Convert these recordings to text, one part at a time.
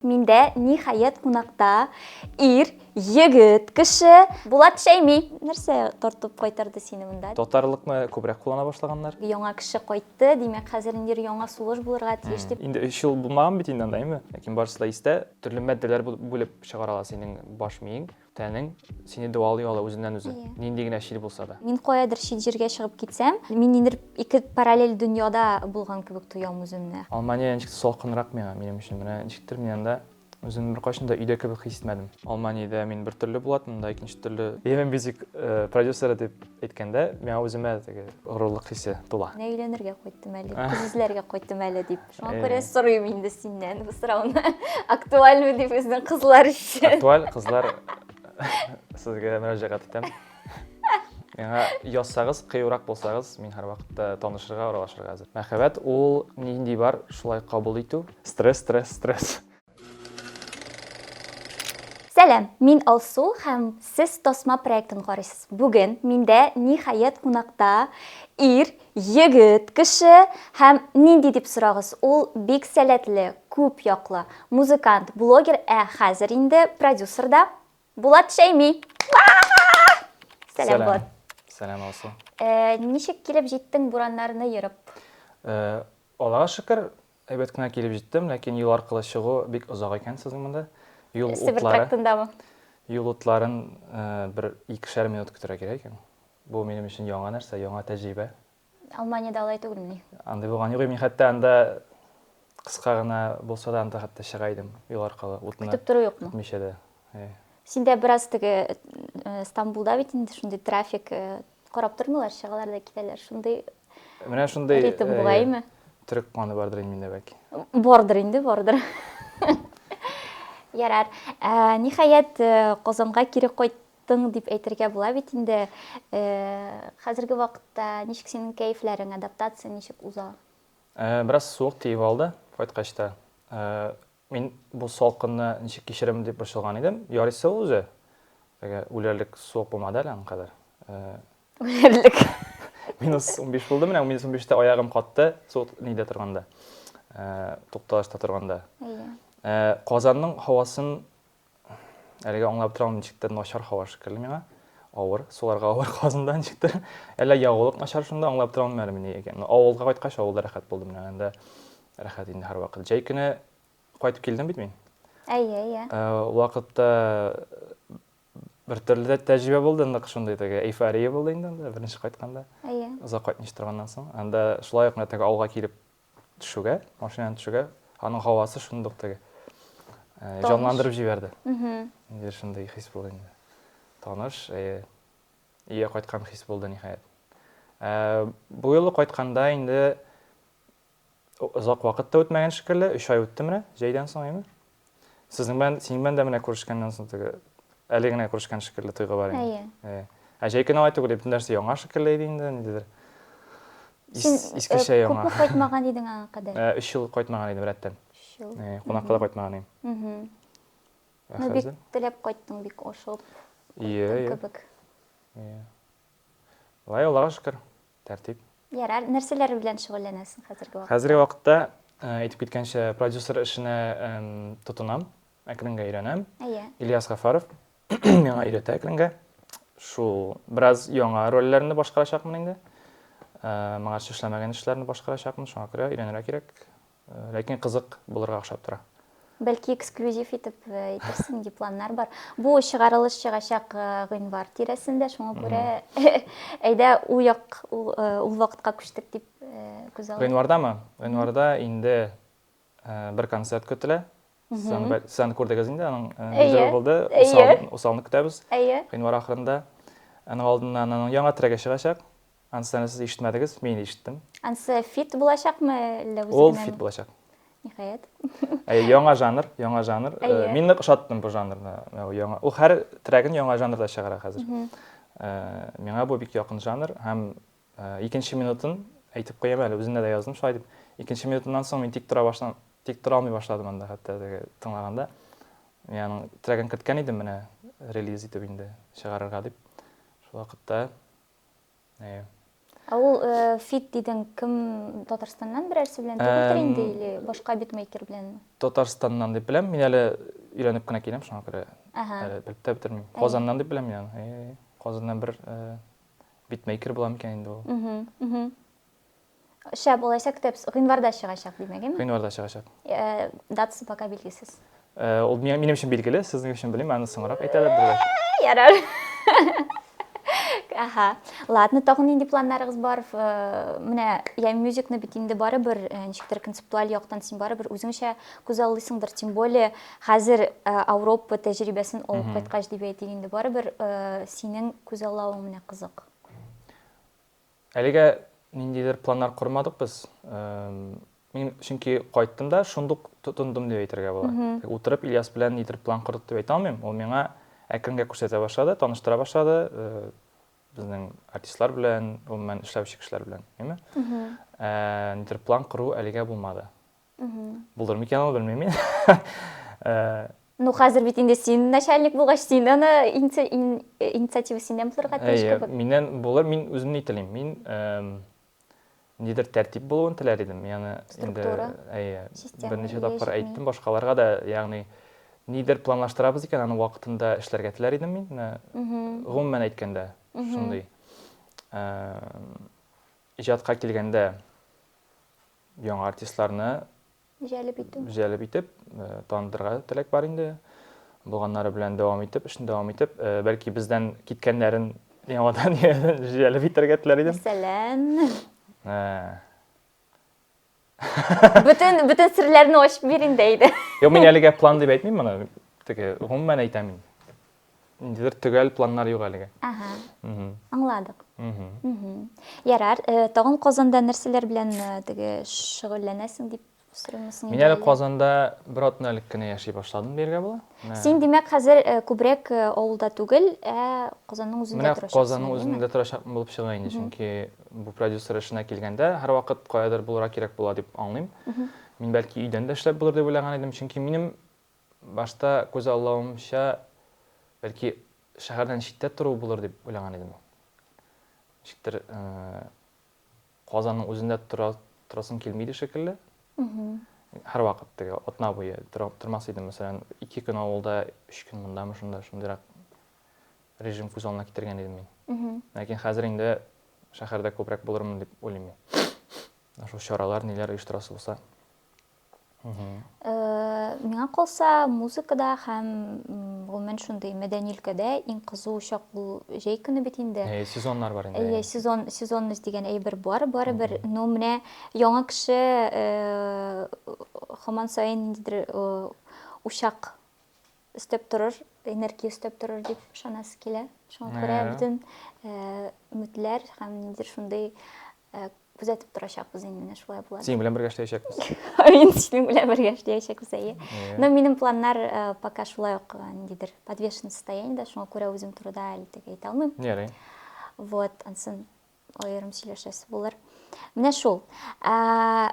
Миндә, ниһаять, кунакта ир, егет кеше. Булат Шәйми! Нәрсә тартып кайтарды сине монда? Татарлыкны күбрәк куллана башлаганнар. Яңа кеше кайтты, димәк, хәзер ниндидер яңа сулыш булырга тиеш дип. Инде өч ел булмаган бит инде анда, әйеме? Ләкин барысы да истә. Төрле матдәләр бүлеп чыгаралар синең баш миең. Тәнең сине дәвалый ала үзеннән-үзе, Әйе. нинди генә чир булса да. Мин каядыр чит җиргә чыгып китсәм, мин ниндидер ике параллель дөньяда булган кебек тоям үземне. Алмания ничектер салкынрак миңа, минем өчен. Менә ничектер мин анда үземне беркайчан да өйдә кебек хис итмәдем. Алманиядә мин бер төрле булатым, монда икенче төрле. Yemen Music продюсеры дип әйткәндә, миңа үземә теге горурлык хисе тула. Менә өйләнергә кайттым әле, кыз эзләргә кайттым әле дип. Шуңа күрә Э. сорыйм инде синнән бу сорауны. Актуальмы ди безнең кызлар өчен? Актуаль кызлар сезгә мөрәҗәгать итәм. Миңа язсагыз, кыюрак булсагыз, мин һәрвакытта танышырга, аралашырга әзер. Мәхәббәт ул нинди бар, шулай кабул итү. Стресс, стресс, стресс. Сәлам, мин Алсу һәм сез Тасма проектын карыйсыз. Бүген миндә ниһаять кунакта ир, егет, кеше һәм нинди дип сорагыз, ул бик сәләтле, күп яклы, музыкант, блогер, ә хәзер инде продюсер да, Булат Шәйми! Сәлам, Булат. Сәлам, Алсу. Ничек килеп җиттең Бураннарны ерып? Аллага шөкер, Әйбәт кенә килеп җиттем, ләкин юл аркылы чыгу бик озак икән сезнең монда. Юл утлары. Себер трактындамы? Юл утларын бер икешәр минут көтәргә кирәк икән. Бу минем өчен яңа нәрсә, яңа тәҗрибә. Алманиядә алай түгелмени? Андый булган юк. Мин хәтта анда кыска гына булса да анда хәтта чыга идем юл аркылы. Утны көтеп тору юкмы? Көтмичә дә. Синдә бераз теге Стамбулда бит инде шундый трафик Карап тормыйлар, чыгалар да китәләр. Шундый Менә шундый ритм э, бугаймы? Төрек каны бардыр инде миндә бәки. Бардыр инде, бардыр. Ярар. Э, ниһаять э, Казанга кире кайт кайттың дип әйтергә була бит инде э, хәзерге вакытта ничек синең кәефләрең адаптация ничек уза ә, бераз суык тиеп алды кайткач та ә, Мин бу салкынны ничек кичерермен дип борчылган идем. Ярыйсы ул үзе. Теге үләрлек суык булмады әле аңа кадәр. Үләрлек. Минус 15 булды, менә минус 15-тә аягым катты, суык нидә торганда. Тукталышта торганда. Казанның һавасын Әлегә аңлап торам ничектер начар һава шикелле миңа. Авыр, суларга авыр казында ничектер. Әллә ягулык начар шунда аңлап торам әле мени икән. Авылга кайткач авылда рәхәт булдым менә анда. Рәхәт инде һәрвакыт. Җәй көне кайтып килдем бит мин. Әйе, әйе. Э, вакытта бер төрле дә тәҗрибә булды, нык шундый теге эйфория булды инде анда беренче кайтканда. Әйе. Озак кайтмыйча торганнан соң, анда шулай ук менә теге авылга килеп төшүгә, машинадан төшүгә, аның һавасы шундук теге җанландырып җибәрде. Инде шундый хис булды инде. Таныш, өйгә кайткан хис булды ниһаять. Бу юлы кайтканда инде озак вакыт та үтмәгән шикелле, 3 ай үтте менә, җәйдән соң, әйме? Сезнең белән, синең белән дә менә күрешкәннән соң теге әле генә күрешкән шикелле тойгы бар инде. Әйе. Ә җәй көне алай түгел, бөтен нәрсә яңа шикелле иде инде, ниндидер. Син искечә э, яңа. Күпме кайтмаган идең аңа кадәр? 3 э, ел кайтмаган идем рәттән. 3 ел. Э, кунакка да кайтмаган идем. Ә ну, бик теләп кайттың, бик ашыгып. Ие, ие. Кебек. Ие. Лай Аллага шөкер. тәртип. Ярар, нәрсәләр белән шөгыльләнәсең хәзерге вакытта? Хәзерге вакытта, э, әйтеп киткәнчә, продюсер эшенә эм, тотынам, әкренге өйрәнәм. Әйе. Ильяс Гафаров миңа өйрәтә әкренге. Шул бераз яңа рольләрне башкарачакмын инде. Э, моңарчы эшләмәгән эшләрне башкарачакмын, шуңа күрә өйрәнергә кирәк. Ләкин кызык булырга охшап тора. Бәлки эксклюзив итеп әйтерсең, ди планнар бар. Бу чыгарылыш чыгачак гыйнвар тирәсендә, шуңа күрә әйдә ул як ул вакытка күчтек дип күз алдына. Гыйнвардамы? Гыйнварда инде бер концерт көтелә. Сцена күрдегез инде, аның низер булды, усалны көтәбез, гыйнвар ахырында. Аның алдыннан аның яңа трегы чыгачак, анысына сез ишетмәдегез, мин ишеттем. Анысы фит булачакмы, әллә үзе Ул фит булачак. Ниһаять. Әй, яңа жанр, яңа жанр. Мин нык ошаттым бу жанрны. Яңа, ул һәр трегын яңа жанрда чыгара хәзер. Миңа бу бик якын жанр һәм Икенче минутын әйтеп куям әле, үземдә дә яздым шулай дип. Икенче минутыннан соң мин тик тора башлам, тик тора алмый башладым анда хәтта теге тыңлаганда. Мин аның трегын керткән идем менә релиз итеп инде чыгарырга дип. Шул вакытта э Ә ул э, фит дидең, кем Татарстаннан берәрсе белән түгелдер инде или башка битмейкер беләнме? Татарстаннан дип беләм, мин әле өйләнеп кенә киләм, шуңа күрә әле белеп тә бетермим. Казаннан дип беләм мин аны. Э, Казаннан бер э, Битмейкер була микән инде ул? Шәп, алайса көтәбез. Гыйнварда чыгачак, димәгеме? Гыйнварда чыгачак. Э, датасы пока билгесез. Э, ул минем өчен билгеле, сезнең өчен белмим, аны соңрак әйтәләр булыр. Ярар. Аха. Ладно, тагын нинди планнарыгыз бар? Э, менә я мюзикны бит инде барыбер, ничектер концептуаль яктан син барыбер үзеңчә күзаллыйсыңдыр, тем более Хәзер Ауропа тәҗрибәсен алып кайткач дип әйтик инде, барыбер синең күзаллавың менә кызык. Әлегә ниндидер планнар кормадык без. Мин чөнки кайттым да шундук тотындым дип әйтергә була. Утырып Ильяс белән нидер план кордык дип әйтә алмыйм. Ул миңа әкренге күрсәтә башлады, таныштыра башлады безнең артистлар белән, гомумән эшләүче кешеләр белән, әйме? Нидер план кору әлегә булмады. Булдыр микән ул, белмим мин. Э, ну, хәзер бит инде син начальник булгач, син аны инициатива синнән булырга тиеш кебек. Миннән булыр, мин үзем ни телим. Мин нидер тәртип булуын теләр идем. Ягъни инде әйе, берничә тапкыр әйттем башкаларга да, ягъни нидер планлаштырабыз икән, аны вакытында эшләргә теләр идем мин. Гомумән әйткәндә, шундый. Э, иҗатка килгәндә, Яңа артистларны җәлеп итү. Җәлеп итеп, танытырга теләк бар инде. Булганнары белән дәвам итеп, эшне дәвам итеп, бәлки бездән киткәннәрен яңадан җәлеп итәргә теләр идем. Мәсәлән. Бөтен бөтен серләрне ачып бир инде әйдә. Юк, мин әлегә план дип әйтмим моны. Теге гомумән әйтәм мин. Ниндидер төгәл планнар юк әлегә. Ага. Мгм. Аңладык. Мгм. Мгм. Ярар, э, тагын Казанда нәрсәләр белән э, теге шөгыльләнәсең дип сорыймсың Мин әле Казанда бер атна элек кенә яши башладым дияргә була. Менә- Син, димәк, хәзер э, күбрәк э, авылда түгел, ә Казанның үзендә Менә торачаксың. Казанның димме? үзендә торачакмын булып чыга инде, чөнки бу продюсер эшенә килгәндә һәрвакыт каядыр булырга кирәк була дип аңлыйм. Мин бәлки өйдән дә эшләп булыр дип уйлаган идем, чөнки минем Башта күзаллавымча, бәлки, шәһәрдән читтә тору булыр дип уйлаган идем. Ничектер, Казанның үзендә торасым килми иде шикелле. Һәрвакыт теге атна буе тормас идем, мәсәлән, ике көн авылда, өч көн мондамы, шунда шундыйрак режим күз алдына китергән идем мин. Ләкин хәзер инде шәһәрдә күбрәк булырмын дип уйлыйм мин. Шул чаралар, ниләр оештырасы булса. Миңа калса, музыкада һәм гомумән шундый мәдәни өлкәдә иң кызу чак бу җәй көне бит инде. Әйе, сезоннар бар инде. Әйе, сезон, сезонность дигән әйбер бар, барыбер. Но менә яңа кеше һаман саен ниндидер учак өстәп торыр, энергия өстәп торыр дип ышанасы килә. Шуңа күрә бөтен өметләр һәм ниндидер шундый Ә, күзәтеп торачакбыз инде, менә шулай була. Синең белән бергә эшләячәкбез. Мин синең белән бергә эшләячәкбез, әйе. Но минем планнар э, пока шулай ук э, ниндидер подвешенный состояниедә, шуңа күрә үзем турыда әле тек әйтә алмыйм. Ярый. Вот, ансын аерым сөйләшәсе булыр. Менә шул. Ә,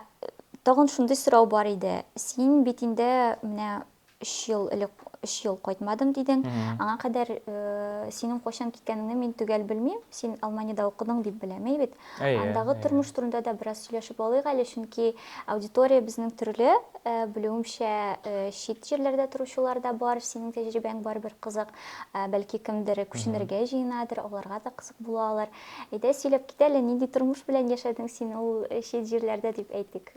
Тагын шундый сорау бар иде. Син бит инде менә өч ел элек өч ел кайтмадым дидең аңа кадәр э, синең кайчан киткәнеңне мин төгәл белмим син алманиядә укыдың дип беләм әй бит андагы тормыш турында да бераз сөйләшеп алыйк әле чөнки аудитория безнең төрле э, белүемчә э, чит җирләрдә торучылар да бар синең тәҗрибәң барыбер кызык бәлки кемдер күченергә җыенадыр аларга да кызык була алыр әйдә сөйләп кит әле нинди тормыш белән яшәдең син ул чит җирләрдә дип әйтик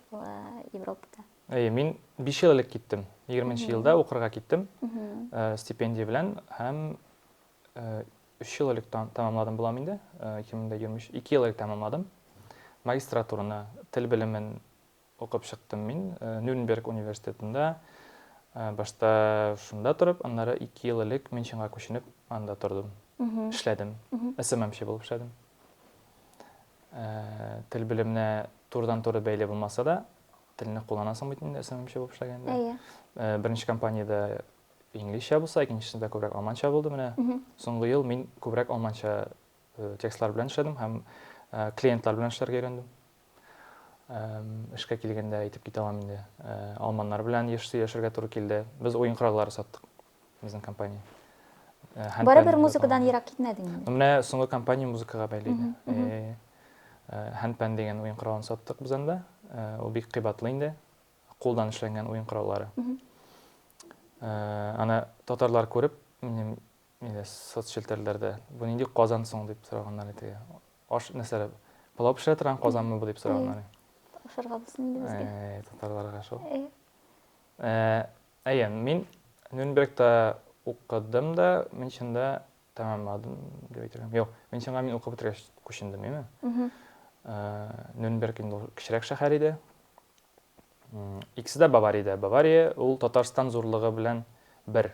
европада Әйе, мин биш ел элек киттем. Егерменче елда укырга киттем э, стипендия белән һәм э, өч ел элек тәмамладым булам инде, э, ике мең дә егерме өч, ике ел элек тәмамладым. Магистратураны, тел белемен укып чыктым мин Нюрнберг университетында. Башта шунда торып, аннары ике ел элек Мюнхенга күченеп, анда тордым, эшләдем, СММчы булып эшләдем. тел белеменә турыдан-туры бәйле булмаса да, телне кулланасың бит инде СММчы булып эшләгәндә. Әйе. Э, беренче компаниядә инглизчә булса, икенчесендә күбрәк алманча булды менә. Соңгы ел мин күбрәк алманча э, текстлар белән эшләдем һәм э, клиентлар белән эшләргә өйрәндем. Эшкә килгәндә әйтеп китә алам инде. Алманнар белән еш сөйләшергә туры килде. Без уен кораллары саттык. безнең компания. Э, һәм Барыбер пән музыкадан дигән- ерак китмәдең инде. Менә соңгы компания музыкага бәйле иде. Мгм, мгм. Э, э, Һәнпән дигән уен коралын саттык без анда. Э, Ул бик кыйбатлы инде. Кулдан эшләнгән уен кораллары. Мгм. Э, Аны татарлар күреп, минем нидә, соцчелтәрләрдә, бу нинди казан соң дип сораганнар иде. Аш нәрсәләр, пылау пешерә торган казанмы бу дип сораганнар. Ашарга булсын инде безгә. Э, Татарларга шул. Э, Э, Әйе, мин Нюрнбергта укыдым да, Мюнхенда тәмамладым дип әйтергә. Юк, Мюнхенга мин укып бетергәч күчендем, яме. Э, Нюрнберг инде кечерәк шәһәр иде. Икесе дә Бавариядә. Бавария ул Татарстан зурлыгы белән бер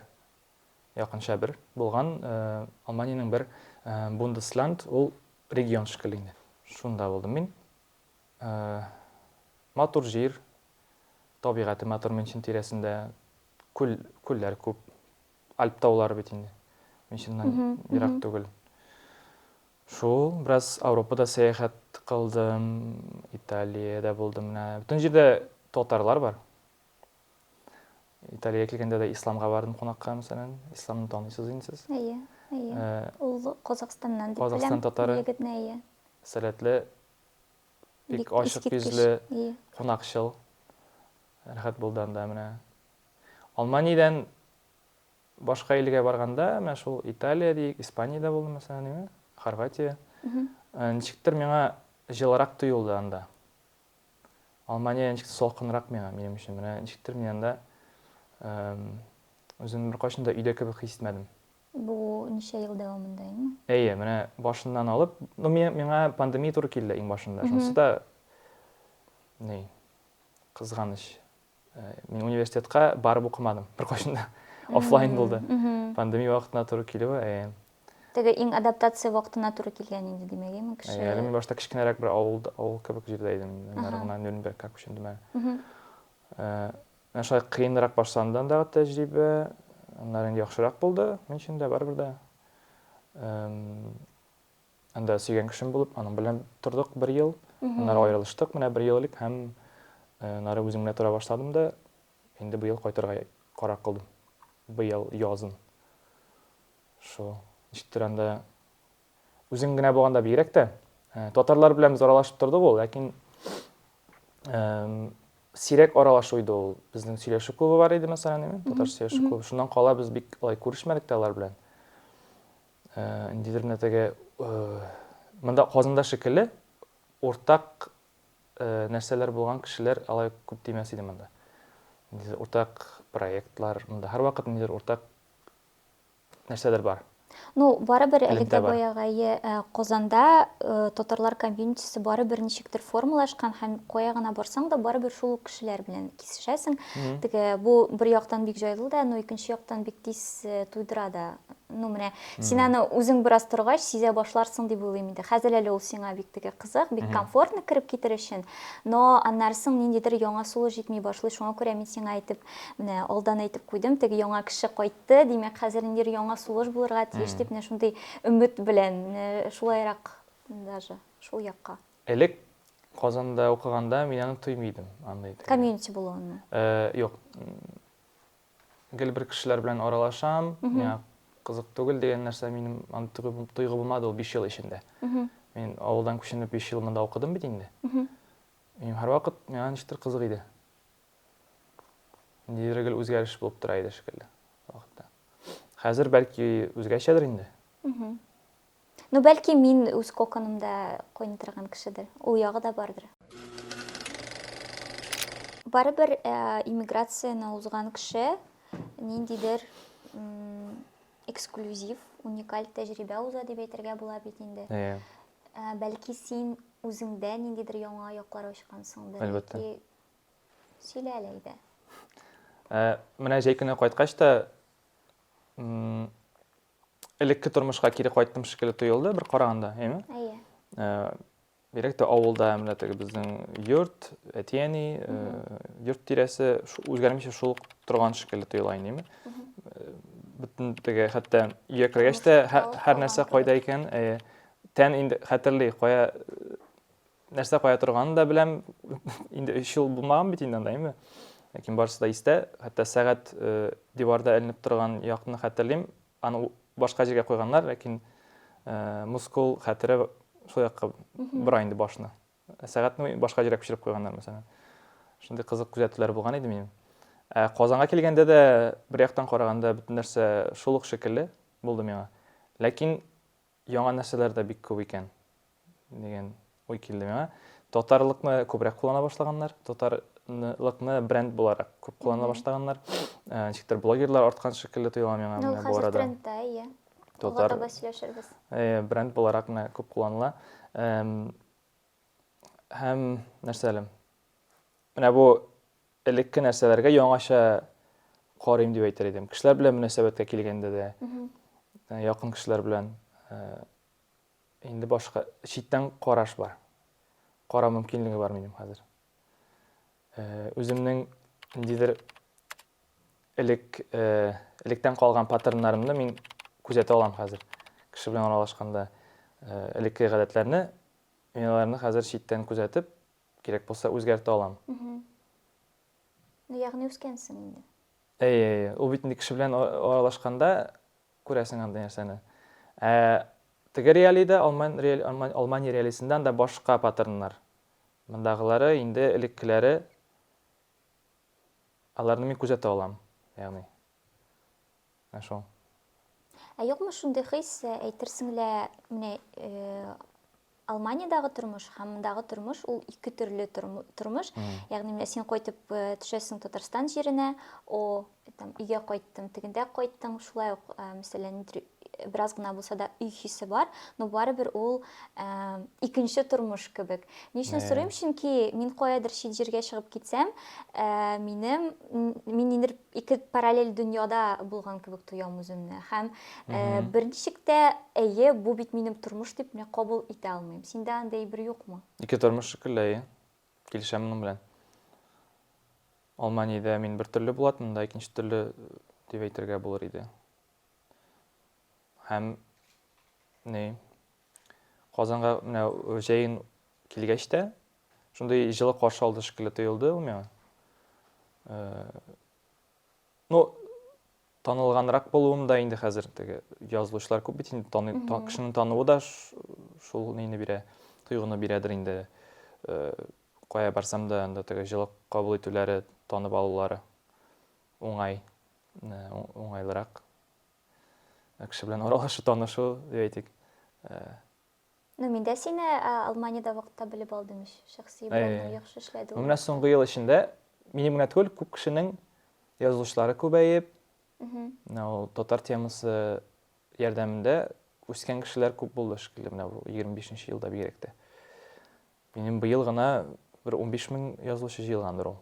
якынча бер булган э, Алманиянең бер э, Бундесленд, ул регион шикелле инде. Шунда булдым мин. Матур җир, табигате матур Мөнчен тирәсендә. Күл, күлләр күп. Альп таулары бит инде. Мөнченнән ерак түгел. Шул, бераз Ауропада сәяхәт кылдым, Италиядә булдым менә. Бөтен җирдә татарлар бар. Италия килгәндә дә исламга бардым кунакка, мәсәлән. Исламны танысыз инде сез. Әйе, әйе. Э, Ул Казахстаннан дип Казахстан беләм. татары. Егетне, әйе. Сәләтле, бик Бик ачык искиткеч. йөзле, Әйе. кунакчыл. Рәхәт булды анда менә. Алманиядән башка илгә барганда, менә шул Италия диик, Испаниядә булдым, мәсәлән, Хорватия. Э, Ничектер миңа җылырак тоелды анда. Алмания ничектер салкынрак миңа, минем өчен. Менә ничектер мин анда үземне беркайчан да өйдә кебек хис итмәдем. Бу ничә ел дәвамында инде? Әйе, менә башыннан алып, ну миңа пандемия туры килде иң башында. Шунысы да ни, кызганыч. Мин университетка барып укымадым беркайчан да. Офлайн булды. Пандемия вакытына туры килүе. Э. Теге иң адаптация вакытына туры килгән инде, димәк, име кеше? Э, әле мин башта кечкенәрәк бер авыл авыл кебек җирдә идем. Аннары гына Нюрнбергка күчендем әле. Э, менә шулай кыенрак башланды андагы тәҗрибә. Аннары инде яхшырак булды. Мин өчен дә барыбер дә. Анда сөйгән кешем булып, аның белән тордык бер ел. Аннары аерылыштык, менә бер ел элек һәм нары үзем генә тора башладым да, инде бу ел кайтырга карар кылдым. Быел язын. Шул. Ничектер анда үзең генә булганда бигрәк тә татарлар белән без аралашып тордык ул, ләкин сирәк аралашу иде ул. Безнең сөйләшү клубы бар иде, мәсәлән, татарча сөйләшү клубы. Шуннан кала без бик алай күрешмәдек тә алар белән. ниндидер генә теге монда Казанда шикелле уртак нәрсәләр булган кешеләр алай күп тимәс иде монда. Ниндидер уртак проектлар, монда һәрвакыт ниндидер уртак нәрсәләр бар. Ну, барыбер әле дә баягы Казанда татарлар комьюнитисы барыбер ничектер формалашкан һәм кая гына барсаң да барыбер шул ук кешеләр белән кисешәсең. Теге бу бер яктан бик җайлы да, но икенче яктан бик тиз туйдыра да ну менә син аны үзең бераз торгач сизә башларсың дип уйлыйм инде хәзер әле ул сиңа бик теге кызык бик комфортно кереп китер өчен но аннары соң ниндидер яңа сулыш җитми башлый шуңа күрә мин сиңа әйтеп менә алдан әйтеп куйдым теге яңа кеше кайтты димәк хәзер ниндидер яңа сулыш булырга тиеш дип менә шундый өмет белән шулайрак даже шул якка элек казанда укыганда мин аны тоймый идем андый комьюнити булуын юк Гел бер кешеләр белән аралашам, миңа кызык түгел дигән нәрсә минем аны тойгы булмады ул 5 ел эчендә. Мин авылдан күченеп 5 ел монда укыдым бит инде. Минем һәрвакыт миңа ничектер кызык иде. Ниндидер гел үзгәреш булып тора иде шикелле вакытта. Хәзер бәлки үзгәчәдер инде. Ну, бәлки мин үз коконымда койный торган кешедер. Ул ягы да бардыр. Барыбер э, иммиграцияне узган кеше ниндидер эксклюзив, уникаль тәҗрибә уза дип әйтергә була бит инде. Э. Э, бәлки син үзеңдә ниндидер яңа яклар ачкансыңдыр. Әлбәттә. Сөйлә әле әйдә. Менә җәй көне кайткач та элекке тормышка кире кайттым шикелле тоелды бер караганда, әйме? Әйе. Э, бигрәк тә авылда менә теге безнең йорт, әти-әни, э, йорт тирәсе үзгәрмичә шул торган шикелле тоела инде, әйме? Э, бөтен теге хәтта өйгә кергәч тә һәр нәрсә кайда икән, тән инде хәтерли, кая нәрсә кая торганын да беләм. Инде 3 ел булмаган бит инде анда, әйме? Ләкин барысы да истә. Хәтта сәгать э, диварда эленеп торган якны хәтерлим. Аны башка җиргә куйганнар, ләкин э, мускул хәтере шул якка бора инде башны. Сәгатьне башка җиргә күчереп куйганнар, мәсәлән. Шундый кызык күзәтүләр булган иде минем. Ә Казанга килгәндә дә бер яктан караганда бөтен нәрсә шул ук шикелле булды миңа. Ләкин Яңа нәрсәләр дә бик күп икән, дигән уй килде миңа. Татарлыкны күбрәк куллана башлаганнар, татарлыкны бренд буларак күп куллана башлаганнар. Ә, Ничектер блогерлар арткан шикелле тоела миңа Ну, менә бу хәзер арада. трендта, иә. Алга Татар таба сөйләшербез. э, бренд буларак менә күп кулланыла. Эм, Һәм нәрсә әле? Менә бу элекке нәрсәләргә яңача карыйм дип әйтер идем. Кешеләр белән мөнәсәбәткә килгәндә дә, э, якын кешеләр белән э, инде башка читтән караш бар. Кара мөмкинлеге бар минем хәзер. Э, үземнең ниндидер элек э, электән калган паттерннарымны мин күзәтә алам хәзер. Кеше белән аралашканда э, элекке гадәтләрне, мин аларны хәзер читтән күзәтеп, Кирәк булса үзгәртә алам. Мхм. Ну, ягъни үскәнсең инде. Әйе, әйе. Ул бит инде кеше белән аралашканда күрәсең андый нәрсәне. Ә теге реалий да, алман реалий, алман, алмани реалисындан да башка паттерннар. Мондагылары инде элеккеләре, аларны мин күзәтә алам, ягъни. Ә шул. Ә юкмы шундый хис, әйтерсең лә, менә Алманиядәге тормыш һәм мондагы тормыш ул ике төрле тормыш. Ягъни менә син кайтып төшәсең Татарстан җиренә, о, там өйгә кайттым, тегендә кайттың, шулай ук, мәсәлән, бераз гына булса да өй хисе бар, но барыбер ул ә, икенче тормыш кебек. Ни өчен сорыйм? Чөнки мин каядыр чит җиргә чыгып китсәм, ә, минем мин ниндер ике параллель дөньяда булган кебек тоям үземне. Һәм ә, бер ничек тә әйе, бу бит минем тормыш дип мин кабул итә алмыйм. Синдә андый бер юкмы? Ике тормыш шикелле, әйе. Килешәм моның белән. Алманиядә мин бер төрле булатмын да, икенче төрле дип әйтергә булыр иде. Һәм ни Казанга менә җәен килгәч тә шундый җылы каршы алды шикелле тоелды ул миңа. Э, ну, танылганрак булуым да инде хәзер теге язылучылар күп бит инде таный, та, кешенең тануы да шул нейне бирә, тойгыны бирәдер инде. Э, кая барсам да анда теге җылы кабул итүләре, танып алулары уңай. Ә, уңайлырак. Ә, кеше белән аралашу, танышу, дип әйтик. Ә, Ну, мин дә сине Алманиядә вакытта белеп алдым ич. Шәхси блогны яхшы эшләде. Менә соңгы ел эчендә минем генә түгел, күп кешенең язылышлары күбәеп, менә ул татар темасы ярдәмендә үскән кешеләр күп булды шикелле менә бу 25 нче елда бигрәк тә. Минем быел гына бер унбиш мең язылучы җыелгандыр ул.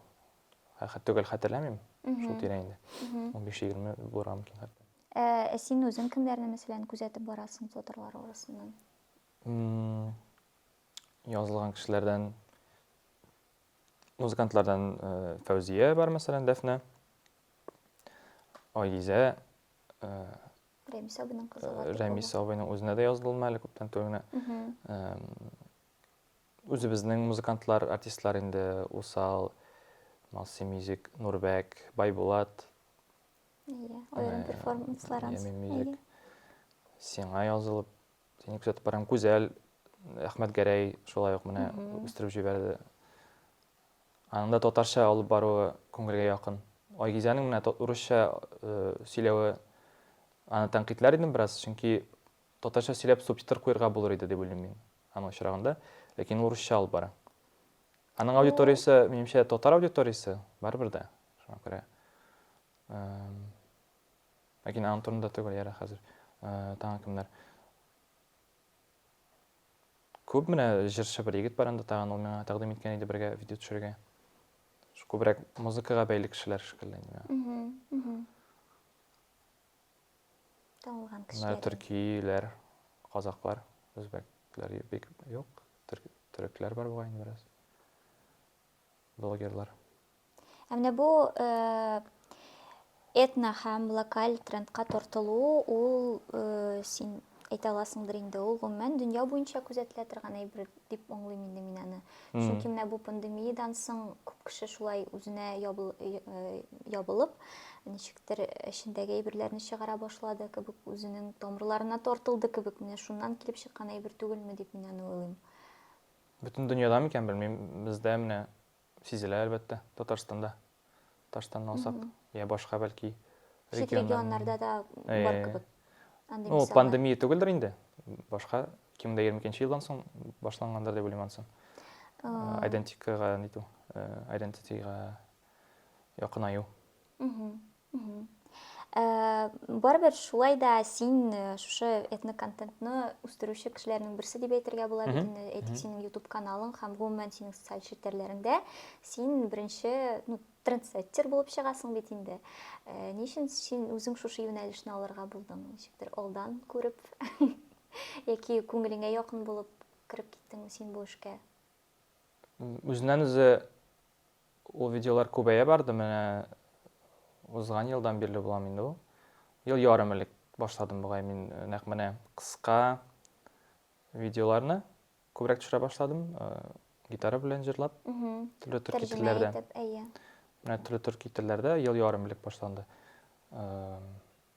Хәтер төгәл хәтерләмим. Шул тирә инде. Унбиш егерме булырга мөмкин хәтта. Ә син үзең кемнәрне мәсәлән күзәтеп барасың флотерлар арасыннан? Язылган кешеләрдән музыкантлардан Фәүзия бар мәсәлән, Дәфнә. Айгизә. Рәмис абыйның кызы. Рәмис абыйның үзенә дә язылдым әле күптән түгел генә. Үзебезнең музыкантлар, артистлар инде усал, Малси Мьюзик, Нурбәк, Байбулат. Иә, аерым перформанслар анс. Ямен Мьюзик. Сиңа язылып, сине күзәтеп барам. Күзәл, Әхмәт Гәрәй шулай ук менә үстереп җибәрде. Аның да татарча алып баруы күңелгә якын. Айгизәнең менә урысча сөйләве аны тәнкыйтьләр идем бераз, чөнки Татарча сөйләп субтитр куерга булыр иде дип уйлыйм мин аның очрагында, ләкин ул русча алып бара. Аның аудиториясе, минемчә, татар аудиториясе, барыбер дә, шуңа күрә. Ләкин аның турында түгел, ярый хәзер тагын кемнәр. Күп менә җырчы бер егет бар анда тагын, ул миңа тәкъдим иткән иде бергә видео төшерергә. Күбрәк музыкага бәйле кешеләр шикелле инде. Танылган кешеләр. Менә төркиләр, казаклар, үзбәкләр бик юк. Төрекләр бар бугай инде бераз. Блогерлар. Ә менә бу э, этно һәм локаль трендка тартылу, ул э, син әйтә аласыңдыр инде ул гомумән дөнья буенча күзәтелә торган әйбер дип аңлыйм инде мин аны чөнки менә бу пандемиядән соң күп кеше шулай үзенә ябылып ничектер эчендәге әйберләрне чыгара башлады кебек үзенең тамырларына тартылды кебек менә шуннан килеп чыккан әйбер түгелме дип мин аны уйлыйм бөтен дөньяда микән белмим бездә менә Сизелә, әлбәттә, Татарстанда. Татарстанны алсак, йә башка, бәлки, регионнар. Чит регионнарда да бар кебек. Андый мисаллар. Ул пандемия түгелдер инде. Башка 2022 елдан соң башлангандыр дип уйлыйм ансын. Айдентикага нитү, айдентитига якынаю. Ә, барыбер шулай да син э, шушы этноконтентны үстерүче кешеләрнең берсе дип әйтергә була бит инде. Әйтик, синең YouTube каналың һәм гомумән синең социаль челтәрләреңдә син беренче, ну, трендсеттер булып чыгасың бит инде. Э, Ни өчен син үзең шушы юнәлешне алырга булдың? Ничектер алдан күреп яки күңелеңә якын булып кереп киттеңме син бу эшкә? М, Үзеннән үзе Ул видеолар күбәя барды, менә узган елдан бирле буламы инде ул. Ел ярым элек башладым бугай мин нәкъ менә кыска видеоларны күбрәк төшерә башладым, гитара белән җырлап, төрле төрки телләрдә. Менә төрле төрки телләрдә ел ярым элек башланды.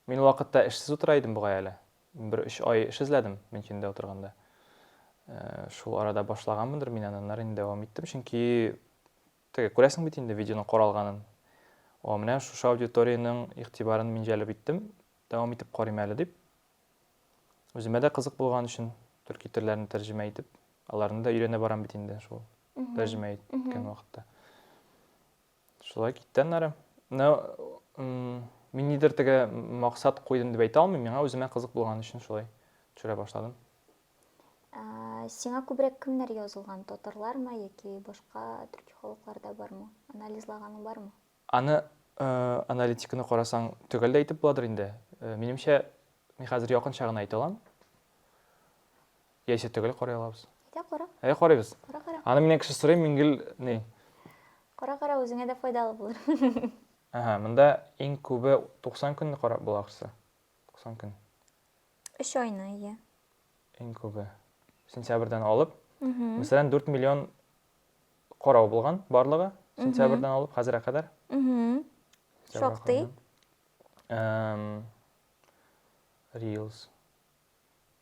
Мин ул вакытта эшсез утыра идем бугай әле. Бер өч ай эш эзләдем Мөнчендә утырганда. Шул арада башлаганмындыр мин аны, аннары инде дәвам иттем, чөнки теге күрәсең бит инде видеоның каралганын. О, менә шушы аудиториянең игътибарын мин җәлеп иттем, дәвам итеп карыйм әле дип. Үземә дә кызык булган өчен төрки телләрне тәрҗемә итеп, аларны да өйрәнә барам бит инде шул тәрҗемә иткән вакытта. Шулай китте аннары. Ну, мин нидер теге максат куйдым дип әйтә алмыйм, миңа үземә кызык булган өчен шулай төшерә башладым. Сиңа күбрәк кемнәр язылган? Татарлармы яки башка төрки халыклар да бармы? Анализлаганың бармы? Аны аналитиканы карасаң, төгәл дә әйтеп буладыр инде. Минемчә, мин хәзер якынча гына әйтә алам. Яисә төгәл карый алабыз. Әйдә, кара. Әйдә, карыйбыз. Кара, кара. Аны миннән кеше сорый, мин гел ни? Кара, кара, үзеңә дә файдалы булыр. Әһә, монда иң күбе 90 көнне карап була ахрысы. 90 көн. 3 айны, ия. Иң күбе. Сентябрьдән алып, мәсәлән, 4 миллион карау булган барлыгы, сентябрьдән алып хәзергә кадәр. Шактый. Reels.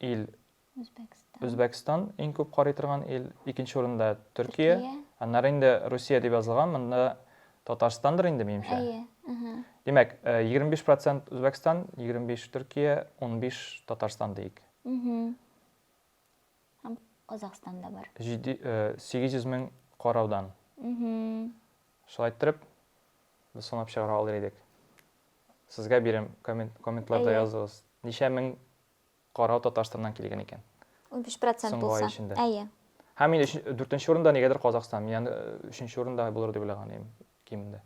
ил Үзбәкстан. Үзбәкстан иң күп карый торган ил, икенче урында Төркия. Төркия. Аннары инде Русия дип язылган, монда Татарстандыр инде, минемчә. Әйе. Мгм. Димәк, э, 25% Үзбәкстан, 25 Төркия, 15 Татарстан диик. Мгм. Һәм Казахстан да бар. Җиде, э, 800 мең караудан. Мгм. Шулай иттереп, без санап чыгара алыр идек. Сезгә бирәм, коммент, комментларда Әйе. языгыз. Ничә мең карау Татарстаннан килгән икән? Унбиш процент Соңгы ай булса. эчендә. Әйе. Һәм мин өч, дүртенче урында нигәдер Казахстан. Мин аны э, өченче урында булыр дип уйлаган идем кимендә.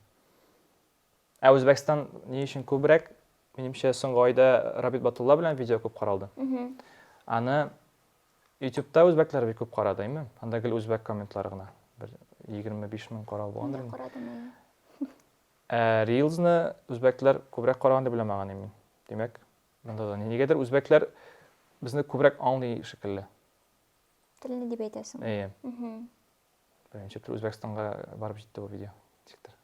Ә Үзбәкстан ни өчен күбрәк? Минемчә, соңгы айда Рабит Батулла белән видео күп каралды. Мгм. Аны YouTube'та үзбәкләр бик күп карады, әйме? Анда гел үзбәк комментлары гына. Бер 25 мең карау булгандыр. Мин инде. карадым, әйе. Ә рилзны үзбәкләр күбрәк караган дип уйламаганым мин. Димәк, монда да нигәдер үзбәкләр безне күбрәк аңлый шикелле. Телне дип әйтәсең. Әйе. Беренче тел Үзбәкстанга барып җитте бу видео. Ничектер.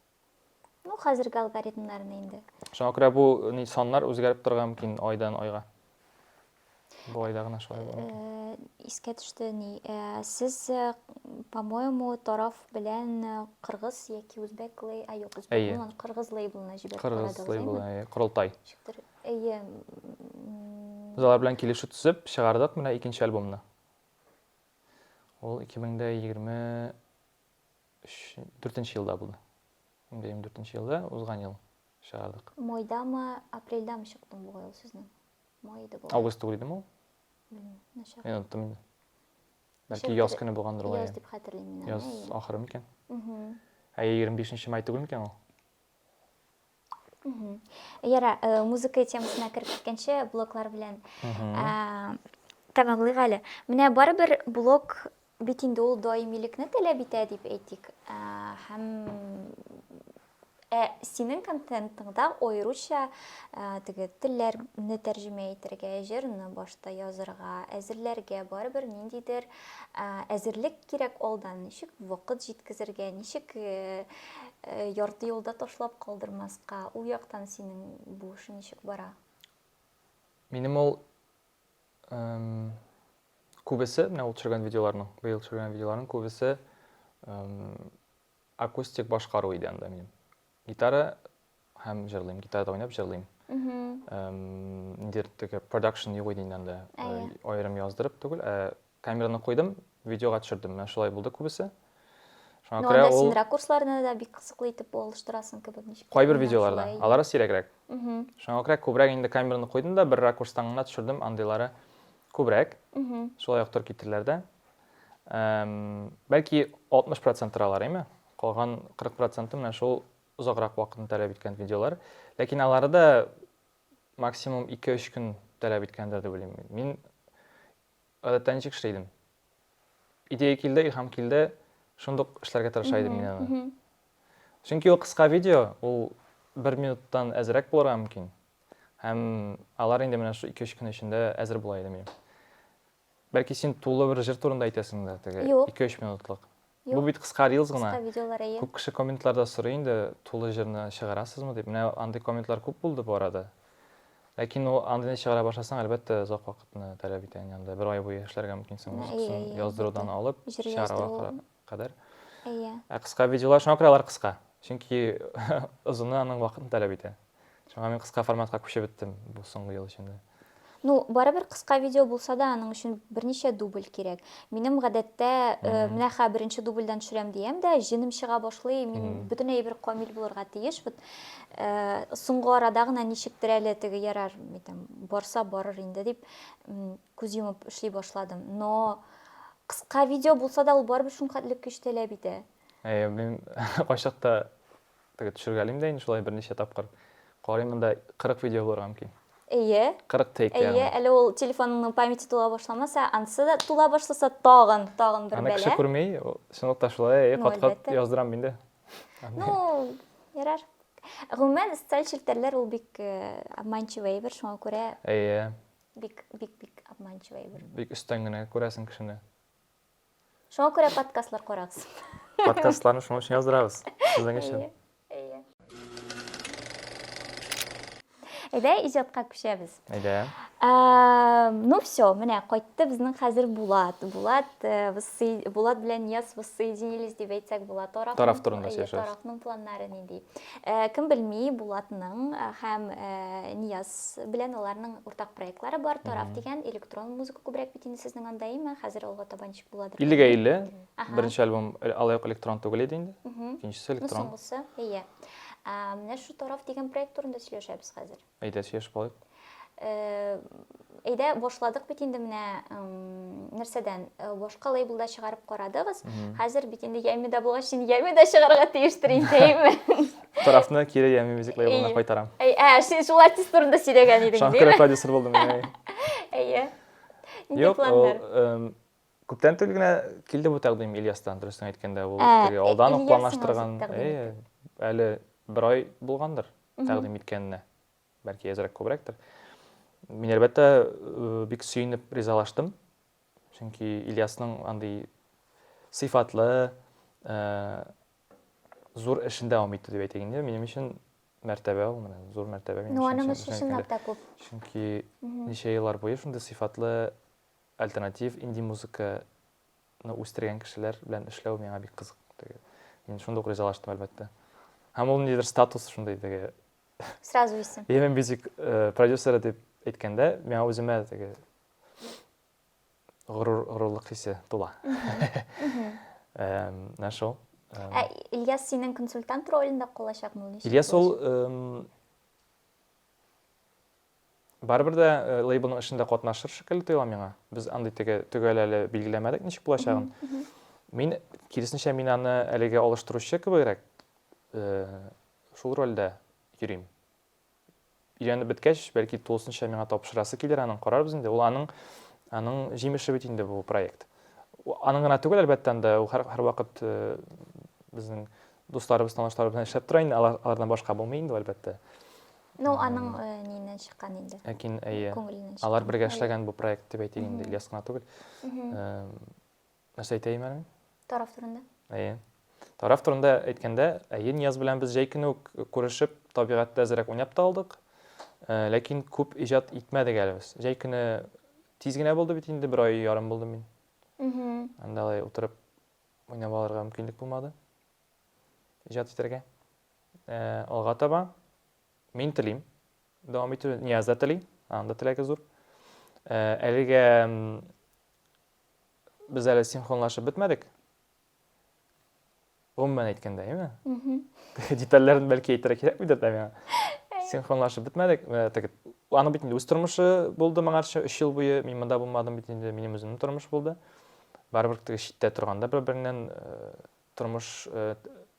Ну, хәзерге алгоритмнарны инде. Шуңа күрә бу саннар үзгәреп торган мөмкин айдан айга. Болай да гына шулай булган. Э, искә төште ни. Э, сез, э, по-моему, тараф белән э, кыргыз яки үзбәк лей, а юк, үзбәк Әйе. булган, кыргыз лейблына җибәреп Кыргыз карадыгыз, лейблы, әйеме? әйе, корылтай. Ничектер, әйе, м, Без алар белән килешү төзеп, чыгардык менә икенче альбомны. Ул 2023 4 елда булды. 2024 елда, узган ел чыгардык. майдамы, апрельдамы чыкты бугай ул сезнең? Май иде бу. Август түгел идеме ул? Начар. Мин оныттым инде. Бәлки яз көне булгандыр ул. Яз дип хәтерлим мин. Яз ахыры микән? Ә 25 май түгел микән ул? Яра, э, музыка темасына кереп киткәнче блоклар белән тәмамлыйк әле. Менә барыбер блок Бит инде ул даимилекне таләп итә дип әйтик. Ә, һәм Ә синең контентыңда аеруча ә, теге телләрне тәрҗемә итәргә, җырны башта язырга, әзерләргә барыбер ниндидер ә, әзерлек кирәк алдан. Ничек вакыт җиткезергә, ничек э, э, ярты юлда ташлап калдырмаска, ул яктан синең бу эшең ничек бара? Минем ул Күбесе, менә ул төшергән видеоларның, быел төшергән видеоларның күбесе акустик башкару иде анда минем. Гитара һәм җырлыйм, гитарада уйнап җырлыйм. Ниндидер теге продакшн юк иде инде анда. Аерым яздырып түгел, ә Камераны куйдым, видеога төшердем. Менә шулай булды күбесе. Шуңа ну, күрә ул... син ракурсларны да бик кызыклы итеп алыштырасың кебек ничек. Кайбер видеоларда, алары сирәгрәк. Шуңа күрә күбрәк инде камераны куйдым да бер ракурстан гына төшердем, андыйлары күбрәк. Шулай ук төр китерләр дә. Бәлки 60% алар, әйме? Калган 40% менә шул озаграк вакытны таләп иткән видеолар. Ләкин алары да максимум 2-3 көн таләп иткәндер дип уйлыйм. Мин Гадәттә ничек эшли идем? Идея килде, илһам килде, шундук эшләргә тырыша идем мин аны. Чөнки ул кыска видео, ул бер минуттан әзрәк булырга мөмкин. Һәм алар инде менә шул 2-3 көн эчендә әзер була иде минем. Бәлки син тулы бер җыр турында әйтәсеңдер, теге 2-3 минутлык. Бу бит кыска рилс гына. Кыска видеолар, әйе. Күп кеше комментларда сорый инде, тулы җырны чыгарасызмы дип. Менә андый комментлар күп булды бу арада. Ләкин ул андыйны чыгара башласаң, әлбәттә, озак вакытны таләп итә инде анда. Бер ай буе эшләргә мөмкинсең музыкасын яздырудан алып, чыгарга кадәр. Әйе. Ә кыска видеолар шуңа күрә алар кыска. Чөнки озыны аның вакытын таләп итә. Шуңа мин кыска форматка күчеп беттем бу соңгы ел эчендә. Ну, барыбер кыска видео булса да, аның өчен берничә дубль кирәк. Минем гадәттә, э, менә хә беренче дубльдән төшерәм диям дә, җенем чыга башлый, мин бөтенләй бер камил булырга тиеш. Вот э, соңгы арада гына ничектер әле теге ярар, әйтәм, барса барыр инде дип күз йомып эшли башладым. Но кыска видео булса да, ул барыбер шул хәтле көч таләп итә. Әйе, мин кайчакта Теге төшергәлим дә инде шулай берничә тапкыр. Карыйм монда 40 видео булырга мөмкин. Әйе. 40 тейк ягъни. Әйе, әле ул телефоныңның памяте тула башламаса, анысы да тула башласа тагын, тагын бер бәла. Аны кеше күрми, чынлыкта та шулай, әйе, кат-кат яздырам инде. Ну, ярар. Гомумән, социаль челтәрләр ул бик обманчивый әйбер, шуңа күрә. Әйе. Бик, бик, бик обманчивый әйбер. Бик өстән генә күрәсең кешене. Шуңа күрә подкастлар карагыз. Подкастларны шуның өчен яздырабыз. Сезнең өчен. Әйдә, иҗатка күчәбез. Әйдә. Ну все, менә кайтты безнең хәзер Булат. Булат, э, Булат белән Яс воссоединились дип әйтсәк була. Тараф Тараф турында сөйләшәбез. Тарафның планнары нинди? Э, кем белми, Булатның э, һәм Нияз белән аларның уртак проектлары бар, Тарав дигән электрон музыка күбрәк бит инде сезнең анда, әйме? Хәзер алга таба ничек буладыр? 50-гә 50. Беренче альбом э, алай ук электрон түгел иде инде. Икенчесе ну, электрон. Ну, соңгысы, әйе. Менә шу Тарав дигән проект турында сөйләшәбез хәзер. Әйдә, сөйләшеп алыйк. Э, әйдә башладык бит инде менә нәрсәдән э, башка лейблда чыгарып карадыгыз хәзер бит инде яймида булгач инде яймида чыгарга тиештер инде әйме Тарафны кире ями мюзик лейблына кайтарам. Әй, ә, син шул артист турында сөйләгән идең, диме? Шаңкыры продюсер булдым мин. Әйе. Юк, ул күптән түгел генә килде бу тәкъдим Ильястан, дөресен әйткәндә, ул теге алдан ук планлаштырган. Әйе, әле бер ай булгандыр тәкъдим иткәненә. Бәлки әзрәк күбрәктер. Мин әлбәттә бик сөенеп ризалаштым. Чөнки Ильясның андый сыйфатлы, зур эшен дәвам итте дип әйтик инде. Минем өчен мәртәбә ул менә, зур мәртәбә минем өчен. Ну, өчен чынлап та күп. Чөнки ничә еллар буе шундый сыйфатлы альтернатив инди музыканы үстергән кешеләр белән эшләү миңа бик кызык. Мин шундук ризалаштым, әлбәттә. Һәм ул ниндидер статус шундый теге. Сразу исем. Yemen Music э, продюсеры дип әйткәндә, миңа үземә теге горурлык хисе тула. Менә шул. Ә Ильяс синең консультант ролендә калачакмы ул? Ильяс ул барыбер дә лейблның эшендә катнашыр шикелле тоела миңа. Без андый теге төгәл әле билгеләмәдек ничек булачагын. Мин киресенчә мин аны әлегә алыштыручы кебегрәк шул рольдә йөрим. өйрәнеп беткәч, бәлки тулысынча миңа тапшырасы килер аның, карарбыз инде. Ул аның аның җимеше бит инде бу проект. Аның гына түгел, әлбәттә, анда ул һәр, һәр вакыт э, безнең дусларыбыз, танышларыбыз белән эшләп тора инде, алардан башка булмый инде, әлбәттә. Ну, аның э, нинен чыккан инде. Ләкин әйе. Алар бергә эшләгән бу проект дип әйтик инде, Ильяс кына түгел. Э, Нәрсә әйтәйем әле? Тараф турында. Әйе. Тараф турында әйткәндә, әйе, Нияз белән без җәй көне үк күрешеп, табигатьтә әзрәк уйнап та алдык. Э, ләкин күп иҗат итмәдек әле без. Җәй көне тиз генә булды бит инде, бер ай ярым булды мин. Анда алай утырып уйнап алырга мөмкинлек булмады. Иҗат итәргә. Э, алга таба мин телим. Дәвам итү Нияз да тели, анда теләге зур. Э, әлегә Без әле синхронлашып бетмәдек. Гомумән әйткәндә, яме? Детальләрен бәлки әйтергә кирәкмидер дә миңа. Синхронлашып бетмәдек. Аның бит инде үз тормышы булды моңарча 3 ел буе. Мин монда булмадым бит инде, минем үземнең тормыш булды. Барыбер теге читтә торганда бер-береннән Тормыш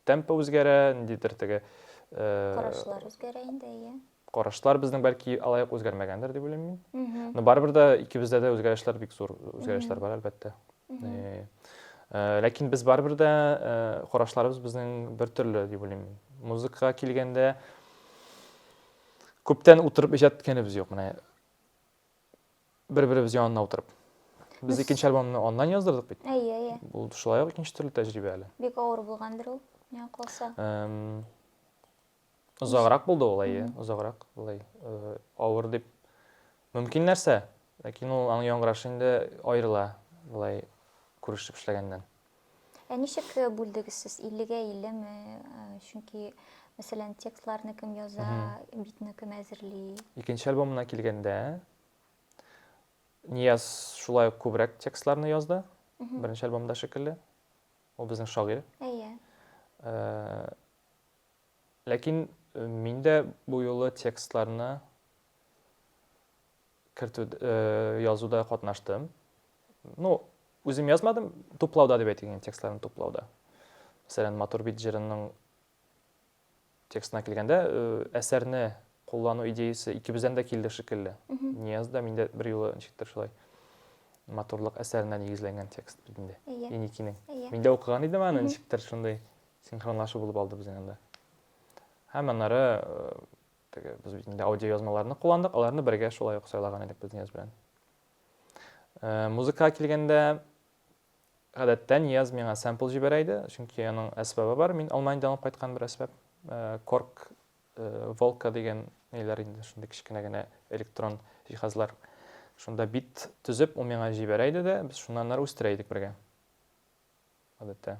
темпы үзгәрә, ниндидер теге Карашлар үзгәрә инде, әйе. Карашлар безнең бәлки алай ук үзгәрмәгәндер дип уйлыйм мин. Но барыбер дә икебездә дә үзгәрешләр бик зур үзгәрешләр бар, әлбәттә. Ләкин без барыбер дә карашларыбыз безнең бер төрле дип уйлыйм мин. Музыкага килгәндә күптән утырып иҗат иткәнебез юк. Менә бер-беребез янында утырып. Без икенче альбомны аннан яздырдык бит. Әйе, әйе. Бу шулай ук икенче төрле тәҗрибә әле. Бик авыр булгандыр ул, миңа калса. Озаграк булды ул, әйе, озаграк. Булай э, авыр дип мөмкин нәрсә, ләкин ул аның яңгырашы инде аерыла, булай күрешеп эшләгәннән. Ә ничек э, бүлдегез сез? 50-гә 50 ме? Э, чөнки, мәсәлән, текстларны кем яза, битны кем әзерли? Икенче альбомына килгәндә, Нияз шулай ук күбрәк текстларны язды. Беренче альбомда шикелле. Ул безнең шагыйрь. Әйе. Э, ләкин мин дә бу юлы текстларны кертү язуда катнаштым. Ну, үзем язмадым, туплауда дип әйтик, текстларын туплауда. Мәсәлән, Матур бит җырының текстына килгәндә, әсәрне куллану идеясы икебездән дә килде шикелле. Нияз да миндә бер юлы ничектер шулай матурлык әсәренә нигезләнгән текст бит инде. Иникинең. Мин дә укыган идем аны, ничектер шундый синхронлашу булып алды безнең анда. Һәм аннары Теге, без бит инде аудиоязмаларны кулландык, аларны бергә шулай ук сайлаган идек без Нияз белән. Э, музыкага килгәндә, гадәттә Нияз миңа сэмпл җибәрә иде, чөнки аның әсбабы бар, мин Алманиядән алып кайткан бер әсбап. Э, корк, э, волка дигән ниләр инде, шундый кечкенә генә электрон җиһазлар. Шунда бит төзеп, ул миңа җибәрә иде дә, без шуннан ары үстерә идек бергә. Гадәттә.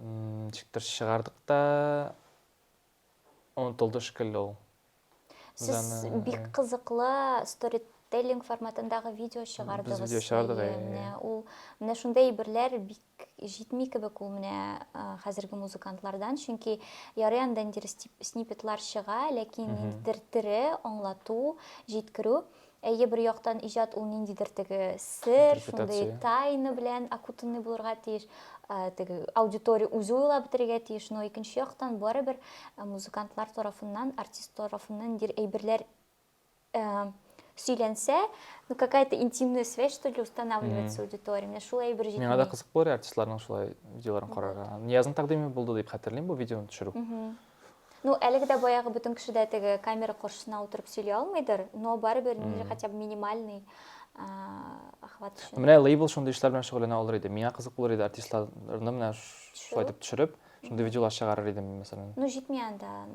Ничектер чыгардык та, онытылды шикелле ул. Сез бик кызыклы стори теллинг форматындагы видео чыгардыгыз. Без видео чыгардык. Менә ул менә шундый әйберләр бик җитми кебек ул менә хәзерге музыкантлардан, чөнки ярый анда инде снипетлар чыга, ләкин ниндидер тере аңлату, җиткерү Әйе, бер яктан иҗат ул ниндидер теге сер, шундый тайна белән окутанный булырга тиеш, теге аудитория үзе уйлап бетерергә тиеш, но икенче яктан барыбер музыкантлар тарафыннан, артист тарафыннан ниндидер әйберләр сөйләнсә, ну какая-то интимная связь что ли устанавливается аудитория. Менә шул әйбер җитми. Миңа да кызык булыр артистларның шулай видеоларын карарга. Ниязның тәкъдиме булды дип хәтерлим бу видеоны төшерү. Ну, әлеге дә баягы бөтен кеше дә теге камера каршысына утырып сөйли алмыйдыр, но барыбер нинди хотя бы минимальный охват өчен. Менә лейбл шундый эшләр белән шөгыльләнә алыр иде. Миңа кызык булыр иде артистларны менә шулай итеп төшереп, шундый видеолар чыгарыр идем мин мәсәлән. Ну, җитми анда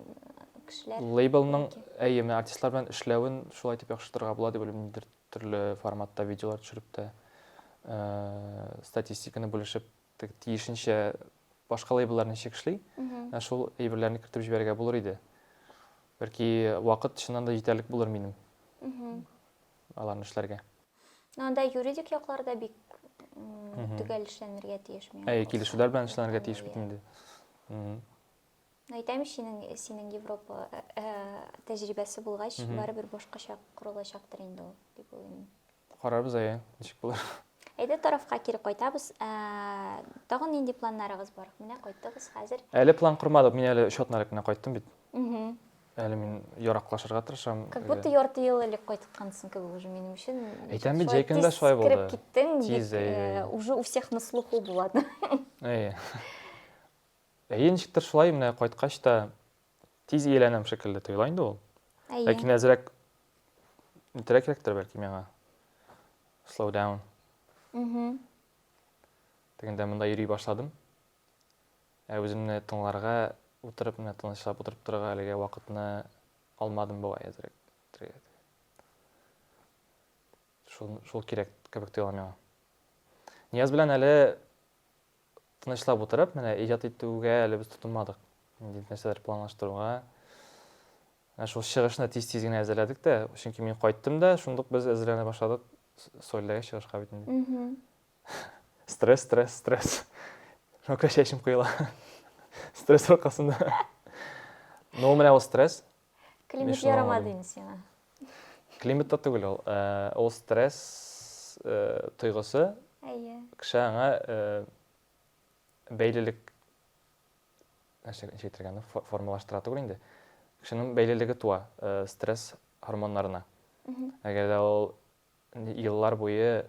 кешеләр. Лейблның, әйе, менә артистлар белән эшләвен шулай итеп яхшыртырга була дип уйлыйм, ниндидер төрле форматта видеолар төшереп тә, статистиканы бүлешеп Тек тиешенчә башка лейбллар ничек эшли, ә шул әйберләрне кертеп җибәрергә булыр иде. Бәлки вакыт чыннан да җитәрлек булыр минем аларны эшләргә. Но анда юридик яклар да бик төгәл эшләнергә тиеш миңа. Әйе, килешүләр белән эшләнергә тиеш бит инде. Әйтәм бит, синең синең Европа тәҗрибәсе булгач, барыбер башкача корылачактыр инде ул, дип уйлыйм. Карарбыз әйе, ничек булыр. Әйдә тарафка кире кайтабыз. Ә, тагын нинди планнарыгыз бар? Менә кайттыгыз хәзер. Әле план кормадык, мин әле өч атна элек кенә кайттым бит. Әле мин яраклашырга тырышам. Как будто ярты ел элек кайткансың кебек уже минем өчен. Әйтәм бит, җәй көндә шулай булды. Кире киттең, тиз, э, уже у всех на слуху булады. Әйе. Әйе, ничектер шулай, менә кайткач та Тиз ияләнәм шикелле тоела инде ул. Әйе. Ләкин әзрәк нитәрәк кирәктер бәлки миңа. Slow down. Мм. Тегендә монда йөри башладым. Ә үземне тыңларга утырып, менә тынычлап утырып торырга әлегә вакытны алмадым бугай әзрәк. Шул шул кирәк кебек тоела миңа. Нияз белән әле Тынычлап утырып, менә иҗат итүгә әле без тотынмадык. Ниндидер нәрсәләр планлаштыруга. Ә шул чыгышны тиз-тиз генә әзерләдек тә, чөнки мин кайттым да, шундук без әзерләнә башладык Сольдәге чыгышка бит инде. Стресс, стресс, стресс. Шуңа чәчем коела. Стресс аркасында. Ну, менә ул стресс. Климат ярамады инде сиңа. Климат та түгел ул. Ул стресс тойгысы. Әйе. Кеше аңа бәйлелек нәрсә ничек әйтергә аны формалаштыра түгел инде. Кешенең бәйлелеге туа стресс гормоннарына. Әгәр дә ул еллар буе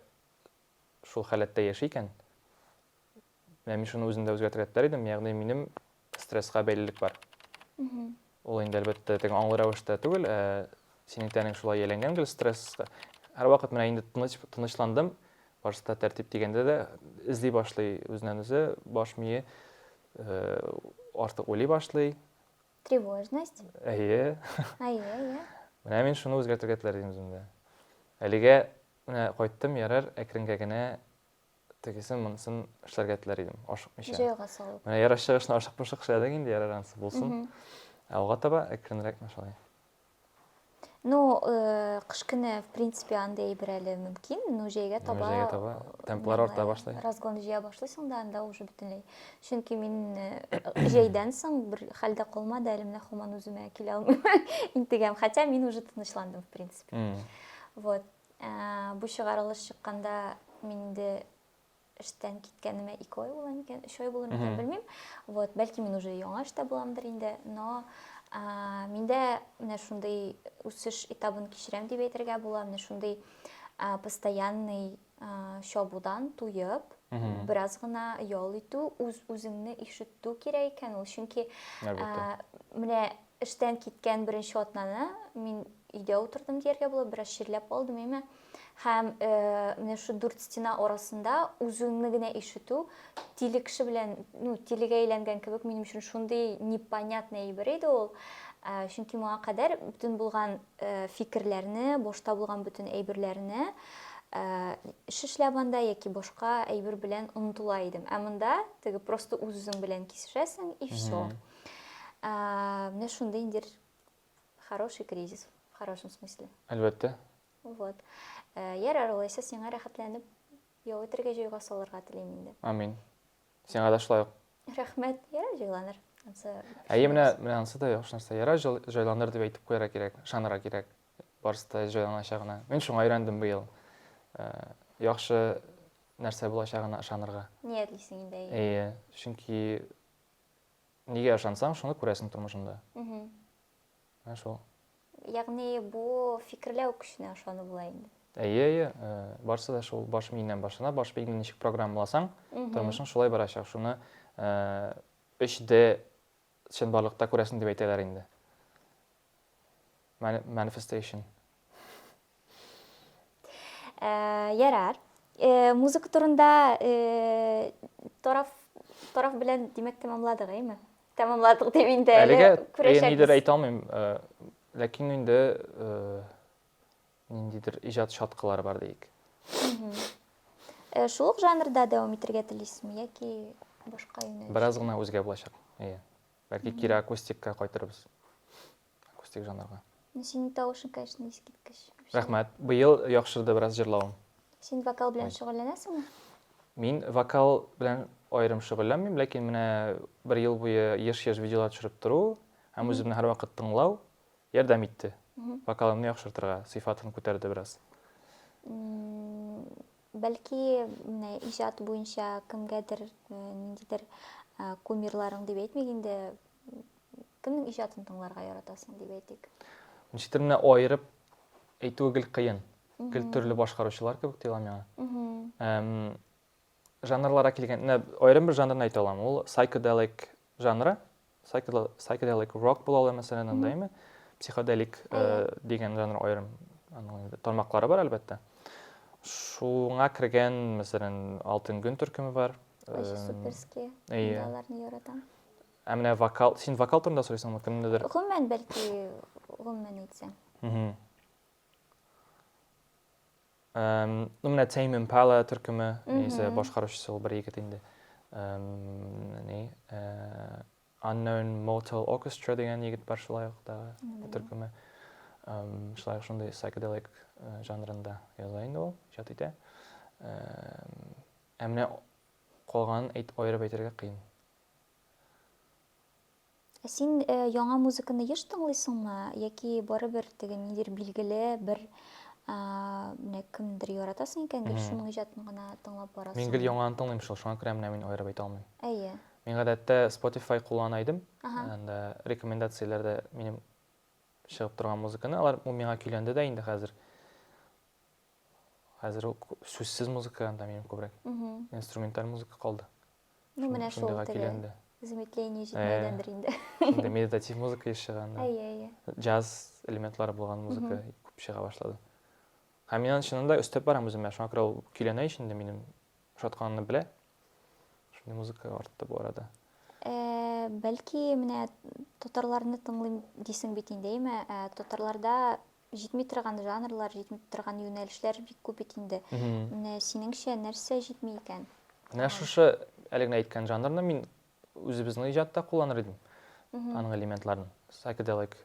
шул халәттә яши икән, Менә мин шуны үземдә үзгәртергә теләр идем, ягъни минем стресска бәйлелек бар. Ул инде әлбәттә теге аңлы рәвештә түгел, ә синең тәнең шулай ияләнгән гел стресска. Һәрвакыт менә инде тыныч тынычландым, башта тәртип дигәндә дә эзли башлый үзеннән үзе, баш мие э, артык уйлый башлый. Тревожность. Әйе. Әйе, әйе. Менә мин шуны үзгәртергә теләр идем үземдә. Әлегә менә кайттым, ярар, әкренгә генә тегесен, монысын эшләргә теләр идем, ашыкмыйча. Җайга салып. Менә ярыш чыгышны ашыкмышык эшләдек инде, ярар анысы булсын. Ә алга таба әкренрәк шулай. Ну, э, кыш көне, в принципе, андый әйбер әле мөмкин, но җәйгә таба... Җәйгә таба темплар арта башлый. Разгон җыя башлыйсың да, анда уже бөтенләй. Чөнки мин э, җәйдән соң бер хәлдә калмады, әле менә һаман үземә килә алмыйм, интегәм. Хотя мин уже тынычландым, в принципе. Вот. Бу чыгарылыш чыкканда мин инде эштән киткәнемә ике ай була микән, өч ай була микән, белмим. Вот, бәлки мин уже яңа эштә буламдыр инде, но миндә менә шундый үсеш этабын кичерәм дип әйтергә була, менә шундый постоянный чабудан туеп, бераз гына ял итү, үз-үзеңне ишетү кирәк икән ул, чөнки менә Эштән киткән беренче атнаны мин өйдә утырдым дияргә була, бераз чирләп алдым, әмма һәм э, менә шу дүрт стена арасында үзеңне генә ишетү тиле кеше белән, ну, тилегә әйләнгән кебек минем өчен шундый непонятный әйбер иде ул. Э, чөнки моңа кадәр бөтен булган э, фикерләрне, башта булган бөтен әйберләрне эш эшләп анда яки башка әйбер белән онытыла идем. Ә монда теге просто үз-үзең белән кисешәсең и все. Ә, менә шундый индер хороший кризис, в хорошем смысле. Әлбәттә. Вот. Ә, ярар, улайса сиңа рәхәтләнеп ял итәргә җайга салырга телим инде. Амин. Сиңа да шулай ук. Рәхмәт. Ярар, җайланыр. Әйе, менә менә ансы да яхшы нәрсә. Ярар, җайланыр дип әйтеп куярга кирәк, ышанырга кирәк. Барысы да җайланачагына. Мин шуңа өйрәндем быел. Ә, яхшы нәрсә булачагына ышанырга. Ниятлисең инде. Әйе, чөнки Нигә ышансаң, шуны күрәсең тормышында. Менә шул. Ягъни бу фикерләү көченә ышану була инде. Әйе, әйе, э, барысы да шул баш миеннән башлана. Баш миеңне ничек программаласаң, тормышың шулай барачак. Шуны 3D э, чынбарлыкта күрәсең дип әйтәләр инде. Manifestation. Ә, ярар. Э, музыка турында э, тараф тараф белән димәк тәмамладык, әйме? Тәмамладык дип инде әле Әлегә күрәчәкбез. ниндидер әйтә алмыйм, э, ләкин инде э, ниндидер иҗат шаткалары бар диик. Э, Шул ук жанрда дәвам итәргә телисезме яки башка юнәлеш? Бераз гына үзгә булачак. Әйе. Бәлки кире акустикка кайтырбыз. Акустик жанрга. Ну, синең тавышың, конечно, искиткеч. Рәхмәт. Быел яхшырды бераз җырлавым. Син вокал белән шөгыльләнәсеңме? Мин вокал белән аерым шөгыльләнмим, ләкин менә бер ел буе еш-еш видеолар төшереп тору һәм үземне һәрвакыт тыңлау ярдәм итте. Вокалымны яхшыртырга, сыйфатын күтәрде бераз. Бәлки, менә иҗат буенча кемгәдер, ниндидер кумирларың дип әйтмик инде, Кемнең иҗатын тыңларга яратасың дип әйтик? Ничектер менә аерып әйтүе гел кыен. Гел төрле башкаручылар кебек тоела миңа. Жанрлара килгәндә аерым бер жанрны әйтә алам. Ул psychedelic жанры. Psychedelic rock була ала мәсәлән анда име? Психоделик э, дигән жанр аерым тармаклары бар әлбәттә. Шуңа кергән, мәсәлән, Алтын гөн төркеме бар. Суперский. Э, аларны яратам. Ә менә вокал, син вокал турында сорыйсыңмы, кемнедер? Гомумән, бәлки, гомумән әйтсәң. Мгм. Эм, Ну, менә Tame Impala төркеме, яисә Мгм. башкаручысы ул бер егет инде. Эм, Ни, э, Unknown Mortal Orchestra дигән егет бар шулай ук да Белмим. төркеме. Эм, Шулай ук шундый psychedelic э, жанрында яза инде ул, иҗат итә. Эм, Ә менә калганын әйт, аерып әйтергә кыен. Ә син э, яңа музыканы еш тыңлыйсыңмы? Яки барыбер теге нидер билгеле бер ә, менә кемдер яратасың икән, гел шуның иҗатын гына тыңлап барасың? Мин гел яңаны тыңлыйм шул, шуңа күрә менә мин аерып әйтә алмыйм. Әйе. Мин гадәттә Spotify куллана идем. Анда рекомендацияләрдә минем чыгып торган музыканы, алар ул миңа көйләнде дә инде хәзер. Хәзер сүзсез музыка анда минем күбрәк. Инструменталь музыка калды. Ну, менә шул шундыйга теге килгән дә. замедление җитмәгәндер инде. Шундый медитатив музыка еш чыган. Әйе, әйе. Джаз элементлары булган музыка күп чыга башлады. Һәм мин аны чыннан да өстәп барам үземә. Шуңа күрә ул көйләнә ич инде минем ошатканымны белә. Шундый музыка артты бу арада. Э, Бәлки менә татарларны тыңлыйм дисең бит инде, әйме? Э, Татарларда Җитми торган жанрлар, җитми торган юнәлешләр бик күп бит инде. Менә синеңчә нәрсә җитми икән? Менә шушы әле генә әйткән жанрны мин үзебезнең иҗатта кулланыр идем. Аның элементларын. Psychedelic.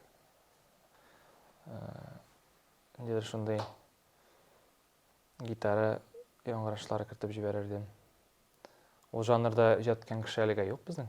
Ниндидер шундый гитара яңгырашлары кертеп җибәрер идем. Ул жанрда иҗат иткән кеше әлегә юк безнең.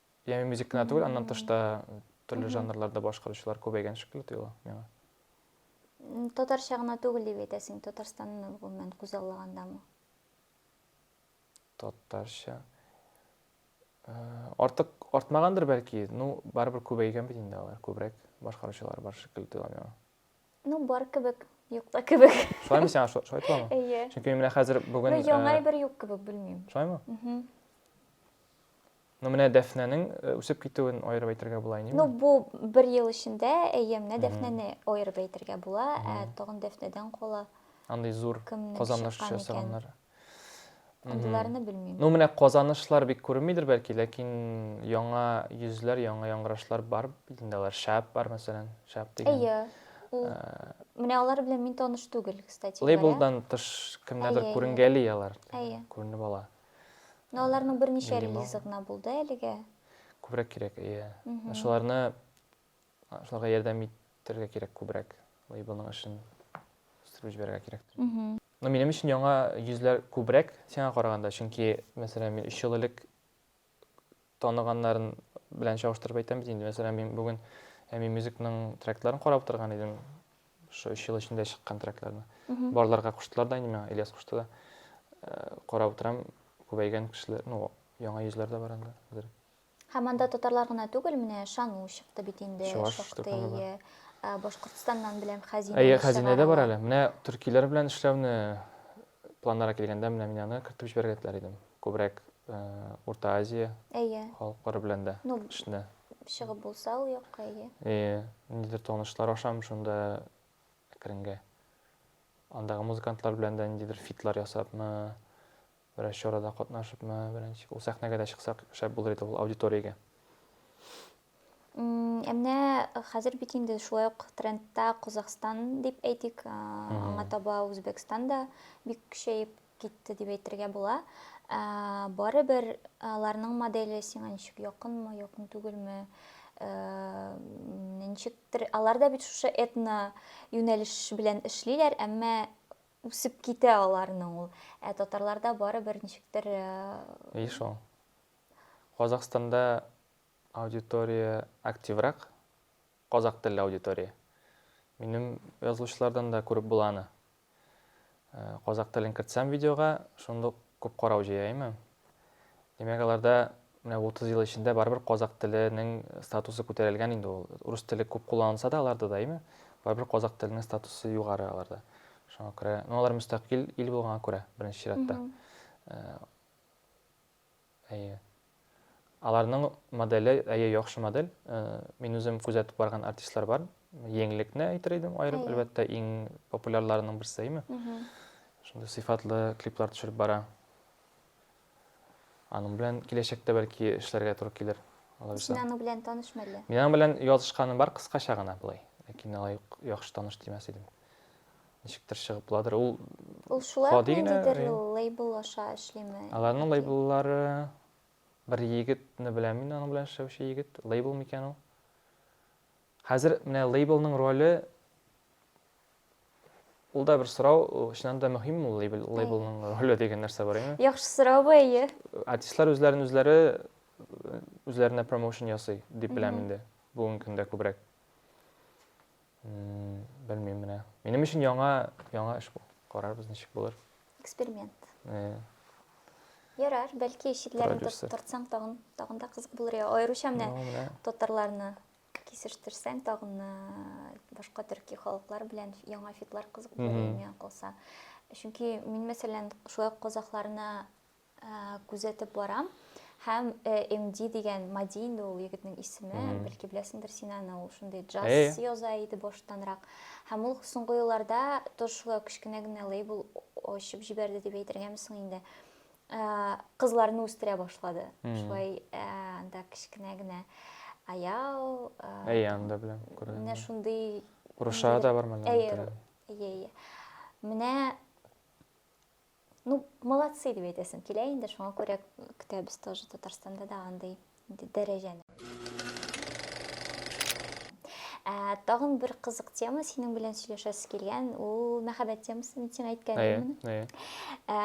Яме мюзик кенә түгел, аннан тыш та төрле жанрларда башкаручылар күбәйгән шикелле тоела миңа. Татарча гына түгел дип әйтәсең, Татарстанны гомумән күзаллагандамы? Татарча. Э, артык артмагандыр бәлки, ну барыбер күбәйгән бит инде алар, күбрәк башкаручылар бар шикелле тоела миңа. Ну, бар кебек, юк та кебек. Шулаймы сиңа, шулай толамы? Әйе. Чөнки менә хәзер бүген... Ну, яңа э, әйбер юк кебек, белмим. Шулаймы? Угу. Ну, менә Дәфнәнең э, үсеп китүен аерып әйтергә була инде. Ну, бу бер ел эчендә, әйе, менә Дәфнәне аерып әйтергә була, ә тагын Дәфнәдән кала. Андый зур казаныш ясаганнар. Андыйларны белмим. Ну, менә казанышлар бик күренмидер бәлки, ләкин яңа йөзләр, яңа яңгырашлар бар инде алар. Шәп бар, мәсәлән, шәп дигән. Әйе. Ул э, менә алар белән мин таныш түгел, кстати. Лейблдан тыш кемнәрдер күренгәли алар. Әйе. Күренеп ала. Но аларның берничә релизы гына булды әлегә. Күбрәк кирәк, әйе. Шуларны шуларга ярдәм итәргә кирәк күбрәк. Лейблның эшен үстереп җибәрергә кирәк. Ну, минем өчен яңа йөзләр күбрәк сиңа караганда, чөнки, мәсәлән, мин өч ел элек таныганнарын белән чагыштырып әйтәм бит инде. Мәсәлән, мин бүген Әми Мюзикның тректларын карап утырган идем. Шул өч ел эчендә чыккан трекларны. Барларга куштылар да инде миңа, Ильяс кушты да. Э, карап утырам, күбәйгән кешеләр, ну, яңа йөзләр дә бар инде. Һәм анда татарлар гына түгел, менә Шану чыкты бит инде, шактый. Башкортстаннан беләм хәзинә. Әйе, хәзинә дә бар әле. Менә төркиләр белән эшләүне планнарга килгәндә менә мин аны кертеп җибәрергә теләр идем. Күбрәк Урта Азия халыклары белән дә эшне. Чыгып булса ул якка, әйе. Әйе, ниндидер танышлар ашам шунда әкренгә. Андагы музыкантлар белән дә ниндидер фитлар ясапмы, Берәр чарада катнашыпмы, беренче ул сәхнәгә дә чыксак шәп булыр иде ул аудиториягә. Ә менә хәзер бит инде шулай ук трендта Казахстан дип әйтик, аңа таба Үзбәкстан да бик көчәеп китте дип әйтергә була. Барыбер аларның моделе сиңа ничек якынмы, якын түгелме? Ничектер алар да бит шушы этно юнәлеш белән эшлиләр, әмма Үсеп китә аларның ул. Ә татарларда барыбер ничектер... И шул. Казахстанда аудитория активрак, казах телле аудитория. Минем язылучылардан да күреп була аны. Казах телен кертсәм видеога, шундук Күп карау җыяймы? Димәк, аларда менә 30 ел эчендә барыбер казакъ теленең статусы күтәрелгән инде ул. Рус теле күп кулланылса да аларда да, әйме? Барыбер казакъ теленең статусы югары аларда. Шуңа күрә, ну, алар мөстәкыйль ил булганга күрә, беренче чиратта. Әйе. Аларның моделе, әйе, яхшы модель. Мин үзем күзәтеп барган артистлар бар. Еңлекне әйтер идем аерым, әлбәттә, иң популярларының берсе, әйме? Шундый сыйфатлы клиплар төшереп бара. Аның белән киләчәктә бәлки эшләргә туры килер. Син аның белән танышмы әллә? Мин аның белән язышканым бар кыскача гына болай. Ләкин алай ук яхшы таныш димәс идем. Ничектер чыгып буладыр. Ул Ул шулай ук гади генә, ниндидер э. лейбл аша эшлиме? Аларның яки- лейбллары бер егетне беләм мин, аның белән эшләүче егет. Лейбл микән ул? Хәзер менә лейблның роле Ул да бер сорау, э, чыннан да мөһимме ул лейбл, Әйе. лейблның роле дигән нәрсә бар, әйеме? Яхшы сорау бу, әйе. Артистлар үзләрен үзләре э, үзләренә промоушен ясый дип беләм Мгм. инде. Бүгенге көндә күбрәк. Белмим менә. Минем өчен яңа, яңа эш бу. Карарбыз ничек булыр. Эксперимент. Э. Ярар, бәлки читләрен тортсаң тагын, тагын да кызык булыр. Аеруча менә татарларны кисештирсәң тагын башка төрки халыклар белән яңа фитлар кызык булыр миңа калса. Чөнки мин мәсәлән шулай казахларны Күзәтеп барам. Һәм МД дигән Мади инде ул егетнең исеме, бәлки беләсеңдер син аны, ул шундый джаз яза иде баштанрак. Һәм ул соңгы елларда тоже шулай кечкенә генә лейбл ачып җибәрде дип әйтергәме соң инде. Кызларны үстерә башлады. Шулай анда кечкенә генә аял. Әйе, анда беләм, күрдем. Менә шундый. Рушада да бар монда. Әйе, әйе. Менә Ну, молодцы дип әйтәсем килә инде, шуңа күрә көтәбез тоже Татарстанда да андый дәрәҗәне. Ә, тагын бер кызык тема синең белән сөйләшәсе килгән, ул мәхәббәт темасы, мин сиңа әйткәнмен. Әйе, әйе. Ә,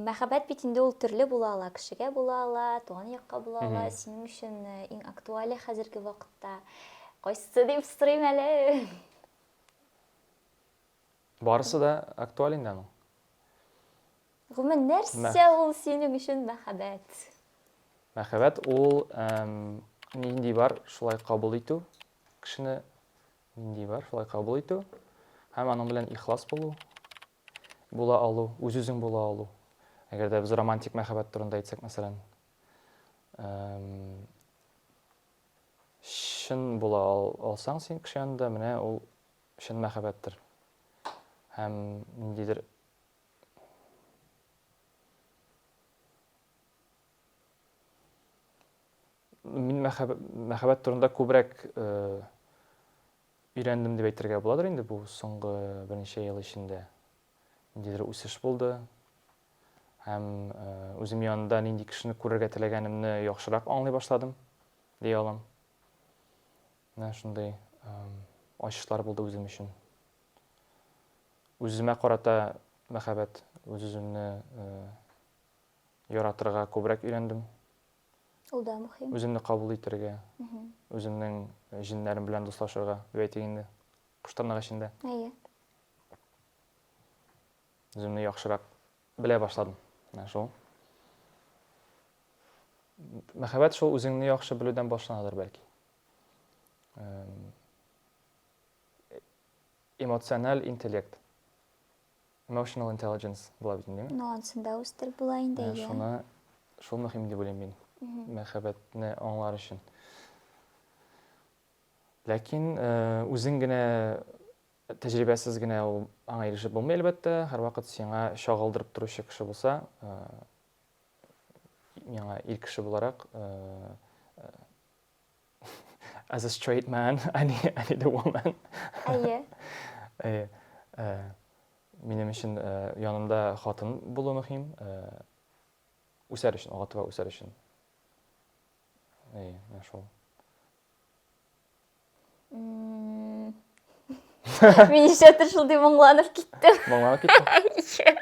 мәхәббәт бит инде ул төрле була ала, кешегә була ала, туган якка була ала. Синең өчен э, иң актуале хәзерге вакытта кайсы дип сорыйм әле. Барысы да актуаль инде аның. Гомумән, нәрсә ул синең өчен мәхәббәт? Мәхәббәт ул нинди бар, шулай кабул итү, кешене нинди бар, шулай кабул итү һәм аның белән ихлас булу, була алу, үз-үзең була алу. Әгәр дә без романтик мәхәббәт турында әйтсәк, мәсәлән, чын була алсаң син кеше янында, менә ул чын мәхәббәттер һәм ниндидер мин мәхәббәт турында күбрәк өйрәндем дип әйтергә буладыр инде бу соңгы берничә ел эчендә. Ниндидер үсеш булды. Һәм үзем янында нинди кешене күрергә теләгәнемне яхшырак аңлый башладым, дия алам. Менә шундый ачышлар булды үзем өчен. Үземә карата мәхәббәт, үз-үземне яратырга күбрәк өйрәндем. Ул да мөһим. Үземне кабул итәргә, үземнең җиннәрем белән дуслашырга, дип әйтик инде, кыштырнак эчендә. Әйе. Үземне яхшырак белә башладым. Менә шул. Мәхәббәт шул үзеңне яхшы белүдән башланадыр бәлки. эмоциональ интеллект emotional intelligence була бит инде ну ансын да үстереп була инде иә шуны шул мөһим дип уйлыйм мин мәхәббәтне аңлар өчен ләкин үзең генә тәҗрибәсез генә ул аңа ирешеп булмый әлбәттә һәрвакыт сиңа чагылдырып торучы кеше булса миңа ир кеше буларак As a straight man, I need, I need a woman. Әйе. Әйе. Ә, минем өчен ә, янымда хатын булу мөһим. Ә, үсәр өчен, ага таба үсәр өчен. Әйе, менә шул. М, Мин нишләптер шундый моңланып киттем. Моңланып киттем.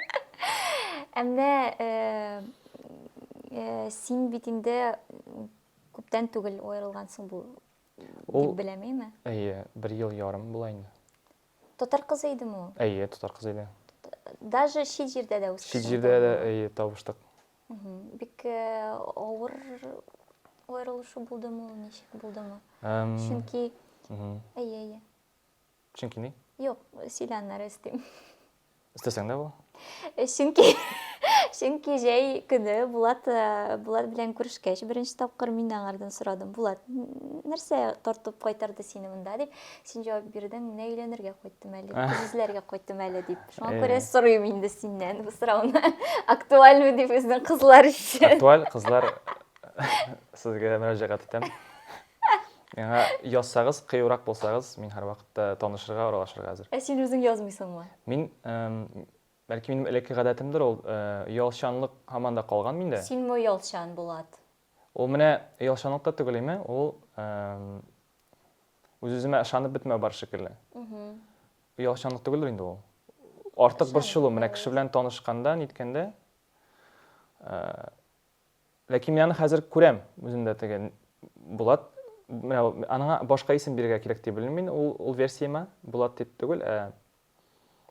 Ә менә э, э, син бит инде Күптән түгел аерылгансың бу Ул... дип беләм, әйме? Әйе, бер ел ярым була инде. Татар кызы идеме ул? Әйе, татар кызы иде. Даже чит җирдә дә үскән. Чит җирдә дә әйе табыштык. Бик э, авыр аерылышу булдымы ул, ничек булдымы? Чөнки әйе, әйе. Чөнки ни? Юк, сөйләннәр эстим. Истәсәң дә бу? Э, чөнки чөнки җәй көне Булат э, Булат белән күрешкәч, беренче тапкыр мин аңардан сорадым. Булат, нәрсә тартып кайтарды сине монда дип, син җавап бирдең, менә өйләнергә кайттым әле, күзләргә кайттым әле дип. Шуңа э. күрә сорыйм инде синнән бу сорауны. Актуальмы дип безнең кызлар өчен. Актуаль кызлар сезгә мөрәҗәгать итәм. Миңа язсагыз, кыюрак булсагыз, мин һәрвакытта танышырга, аралашырга әзер. Ә син үзең язмыйсыңмы? Мин, бәлки минем элекке гадәтемдер ул, оялчанлык һаман да калган миндә. Синме оялчан, Булат? Ул менә оялчанлык та түгел име, ул үз-үземә ышанып бетмәү бар шикелле. Оялчанлык түгелдер инде ул. Артык борчылу, менә кеше белән танышканда, ниткәндә, Ләкин мин аны хәзер күрәм үземдә теге Булат менә аңа башка исем бирергә кирәк дип белмим мин ул ул версиямә Булат дип түгел ә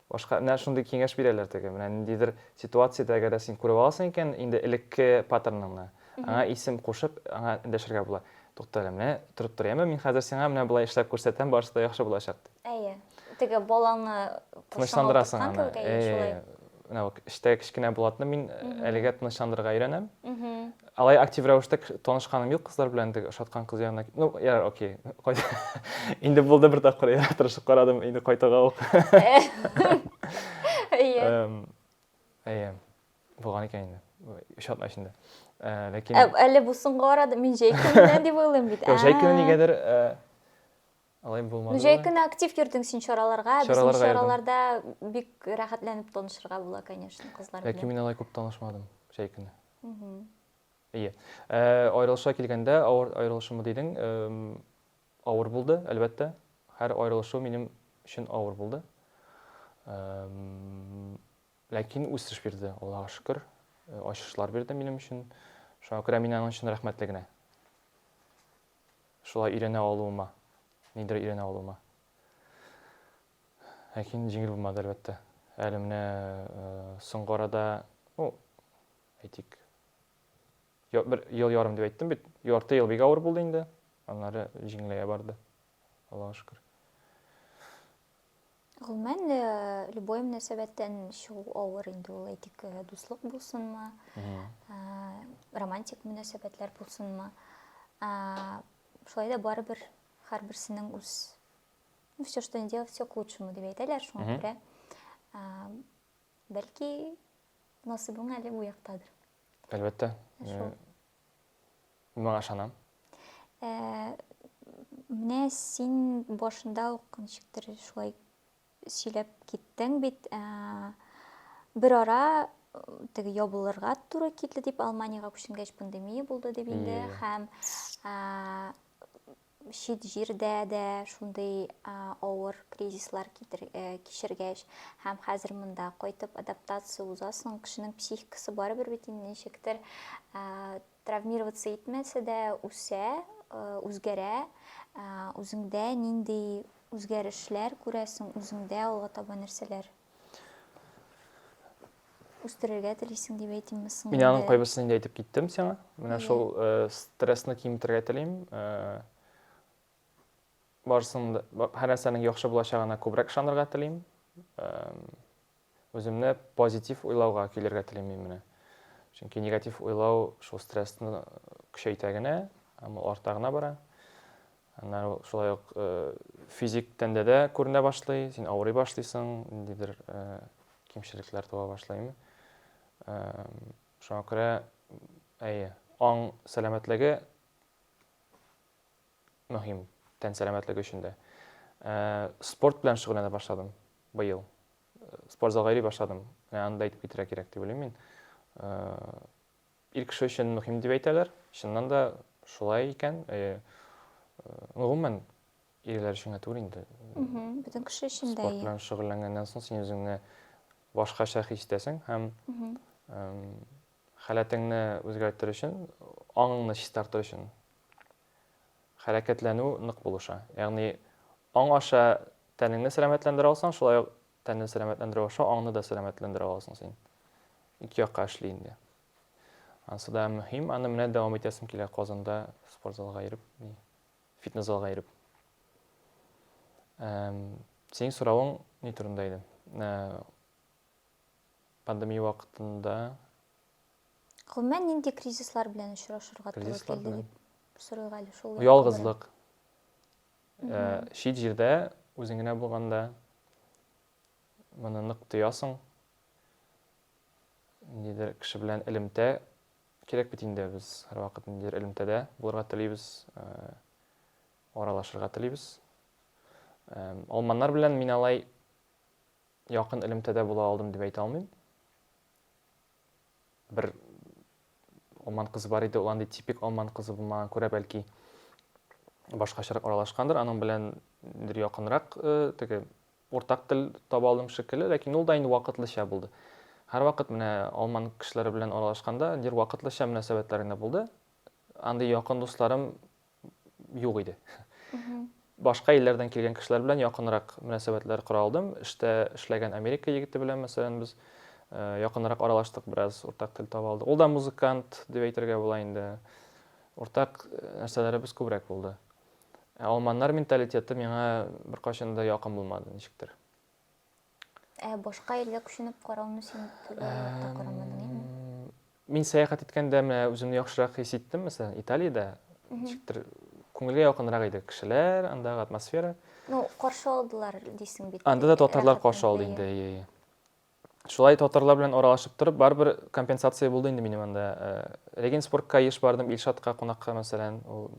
башка менә шундый киңәш бирәләр теге менә ниндидер ситуациядә әгәр дә син күреп аласың икән инде элекке паттерныңны аңа исем кушып аңа эндәшергә була тукта әле менә торып тор яме мин хәзер сиңа менә болай эшләп күрсәтәм барысы да яхшы булачак дип әйе теге балаңны тынычландырасың аны әйе менә бу эштә кечкенә булатны мин әлегә тынычландырырга өйрәнәм алай актив рәвештә танышканым юк кызлар белән теге ошаткан кыз янына ну я окей инде булды бер тапкыр я тырышып карадым инде кайтуга ук әйе әйе булган икән инде өч атна эчендә ләкин әле бу соңгы арада мин җәй көненнән дип уйлыйм бит җәй көне нигәдер Алай булмады. Җәй көне актив йөрдең син чараларга, безнең чараларда бик рәхәтләнеп танышырга була, конечно, кызлар белән. Ләкин мин алай күп танышмадым җәй көне. Ие. Э, аерылыша килгәндә, авыр аерылышымы дидең, авыр булды, әлбәттә. Һәр аерылышу минем өчен авыр булды. Ләкин үсеш бирде, Аллага шөкер. Э, ачышлар бирде минем өчен. Шуңа күрә мин аның өчен рәхмәтле генә. шулай өйрәнә алуыма, нидер өйрәнә алуыма. Ләкин җиңел булмады, әлбәттә. Әле менә соңгы арада, ну, әйтик, бер ел ярым дип әйттем бит, ярты ел бик авыр булды инде, аннары җиңеләя барды, Аллага шөкер. Гомумән, любой мөнәсәбәттән чыгу авыр инде ул, әйтик, дуслык булсынмы, романтик мөнәсәбәтләр булсынмы. Шулай да барыбер һәрберсенең үз ну, все, что не делал, все к лучшему дип әйтәләр, шуңа күрә бәлки насыбың әле бу яктадыр. Әлбәттә. Мин моңа ышанам. Ә, менә син башында ук ничектер шулай сөйләп киттең бит. Ә, бер ара теге ябылырга туры килде дип, Алманиягә күченгәч пандемия булды дип инде һәм чит җирдә дә шундый авыр кризислар э, кичергәч һәм хәзер монда кайтып адаптация узасың кешенең психикасы барыбер бит инде ничектер э, травмироваться итмәсә дә үсә э, үзгәрә үзеңдә нинди үзгәрешләр күрәсең үзеңдә алга таба нәрсәләр үстерергә телисең дип әйтимме соң мин аның кайбысын инде әйтеп киттем сиңа менә шул э, стрессны киметергә телим э, барысын һәр нәрсәнең яхшы булачагына күбрәк ышанырга телим үземне позитив уйлауга көйләргә телим мин менә чөнки негатив уйлау шул стрессны көчәйтә генә һәм ул арта гына бара Аннары ул шулай ук физик тәндә дә күренә башлый, син авырый башлыйсың, ниндидер кимчелекләр туа башлыймы. Шуңа күрә, әйе, аң сәламәтлеге мөһим, тән сәламәтлеге өчен дә. Спорт белән шөгыльләнә башладым быел. Спортзалга йөри башладым. Аны да әйтеп китәргә кирәк дип уйлыйм мин. Ир кеше өчен мөһим дип әйтәләр. Чыннан да шулай икән. Э, ну, гомумән, ирләр өчен генә түгел инде. Бөтен кеше өчен дә. Спорт белән шөгыльләнгәннән соң син үзеңне башкача хис итәсең һәм халәтеңне үзгәртер өчен, аңыңны чистартыр өчен хәрәкәтләнү нык булыша. Ягъни аң аша тәнеңне сәламәтләндерә алсаң, шулай Тәнне сәламәтләндерү аша аңны да сәламәтләндерә аласың син. Ике якка эшли инде. Ансы да мөһим, аны менә дәвам итәсем килә Казанда спортзалга йөреп, ни, фитнес-залга йөреп. Эм, синең соравың ни турында иде? Ә, пандемия вакытында Гомумән нинди кризислар белән очрашырга туры Кризислар килде белән. дип сорыйк әле шул. якка Ялгызлык. Чит җирдә, үзең генә булганда моны нык тоясың. Ниндидер кеше белән элемтә кирәк бит инде, без һәрвакыт ниндидер элемтәдә булырга телибез, аралашырга телибез. Алманнар белән мин алай якын элемтәдә була алдым дип әйтә алмыйм. Бер алман кызы бар иде, ул андый типик алман кызы булмаган күрә бәлки башкачарак аралашкандыр, аның белән бер якынрак э, теге уртак тел таба алдым шикелле, ләкин ул да инде вакытлыча булды. Һәрвакыт менә алман кешеләре белән аралашканда, дир вакытлыча мөнәсәбәтләр генә булды. Андый якын дусларым юк иде. Башка илләрдән килгән кешеләр белән якынрак мөнәсәбәтләр кора алдым. Эштә эшләгән Америка егете белән, мәсәлән, без э, якынрак аралаштык, бераз уртак тел таба алдык. Ул да музыкант дип әйтергә була инде. Уртак э, нәрсәләребез күбрәк булды. Ә алманнар менталитеты миңа беркайчан да якын булмады, ничектер. Ә башка илгә күченеп карауны син төгәлләп карамадың, әйеме? Мин сәяхәт иткәндә менә үземне яхшырак хис иттем, мәсәлән, Италиядә ничектер күңелгә якынрак иде кешеләр, андагы атмосфера. Ну, каршы алдылар дисең бит. Анда да татарлар каршы алды инде, әйе, әйе. Шулай татарлар белән аралашып торып, барыбер компенсация булды инде минем анда. Э, Регенсбургка еш бардым, Илшатка кунакка, мәсәлән, ул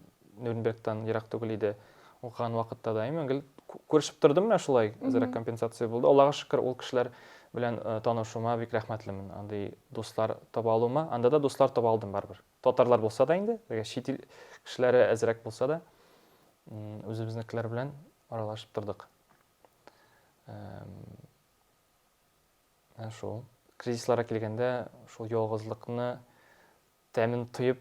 Нюрнбергтан ерак түгел иде. Укыган вакытта да имин гел күрешеп тордым менә шулай, әзрәк компенсация булды. Аллага шөкер, ул кешеләр белән э, танышуыма бик рәхмәтлемен. Андый дуслар таба алуыма. Анда да дуслар таба алдым барыбер. Татарлар булса да инде, әгәр чит ил кешеләре әзрәк булса да, үзебезнекеләр белән аралашып тордык. Менә шул. Кризисларга килгәндә, шул ялгызлыкны тәмен тоеп,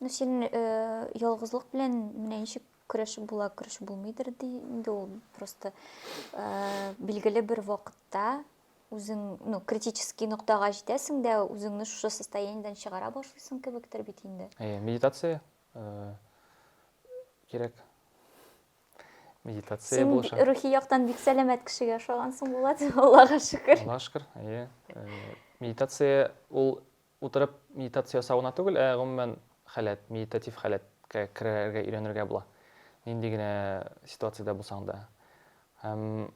Ну, син э, ялгызлык белән менә ничек көрәшеп була, көрәшеп булмыйдыр ди. Инде ул просто э, билгеле бер вакытта үзең, ну, критический ноктага җитәсең дә, үзеңне шушы состояниедән чыгара башлыйсың кебектер бит инде. Әйе, медитация э, кирәк. Медитация Син булыша. рухи яктан бик сәламәт кешегә ошагансың, Булат, Аллага шөкер. Аллага шөкер, әйе. Э, Медитация ул Утырып медитация ясау гына түгел, ә гомумән халәт, медитатив халәткә керергә өйрәнергә була. Нинди генә ситуациядә булсаң да. Һәм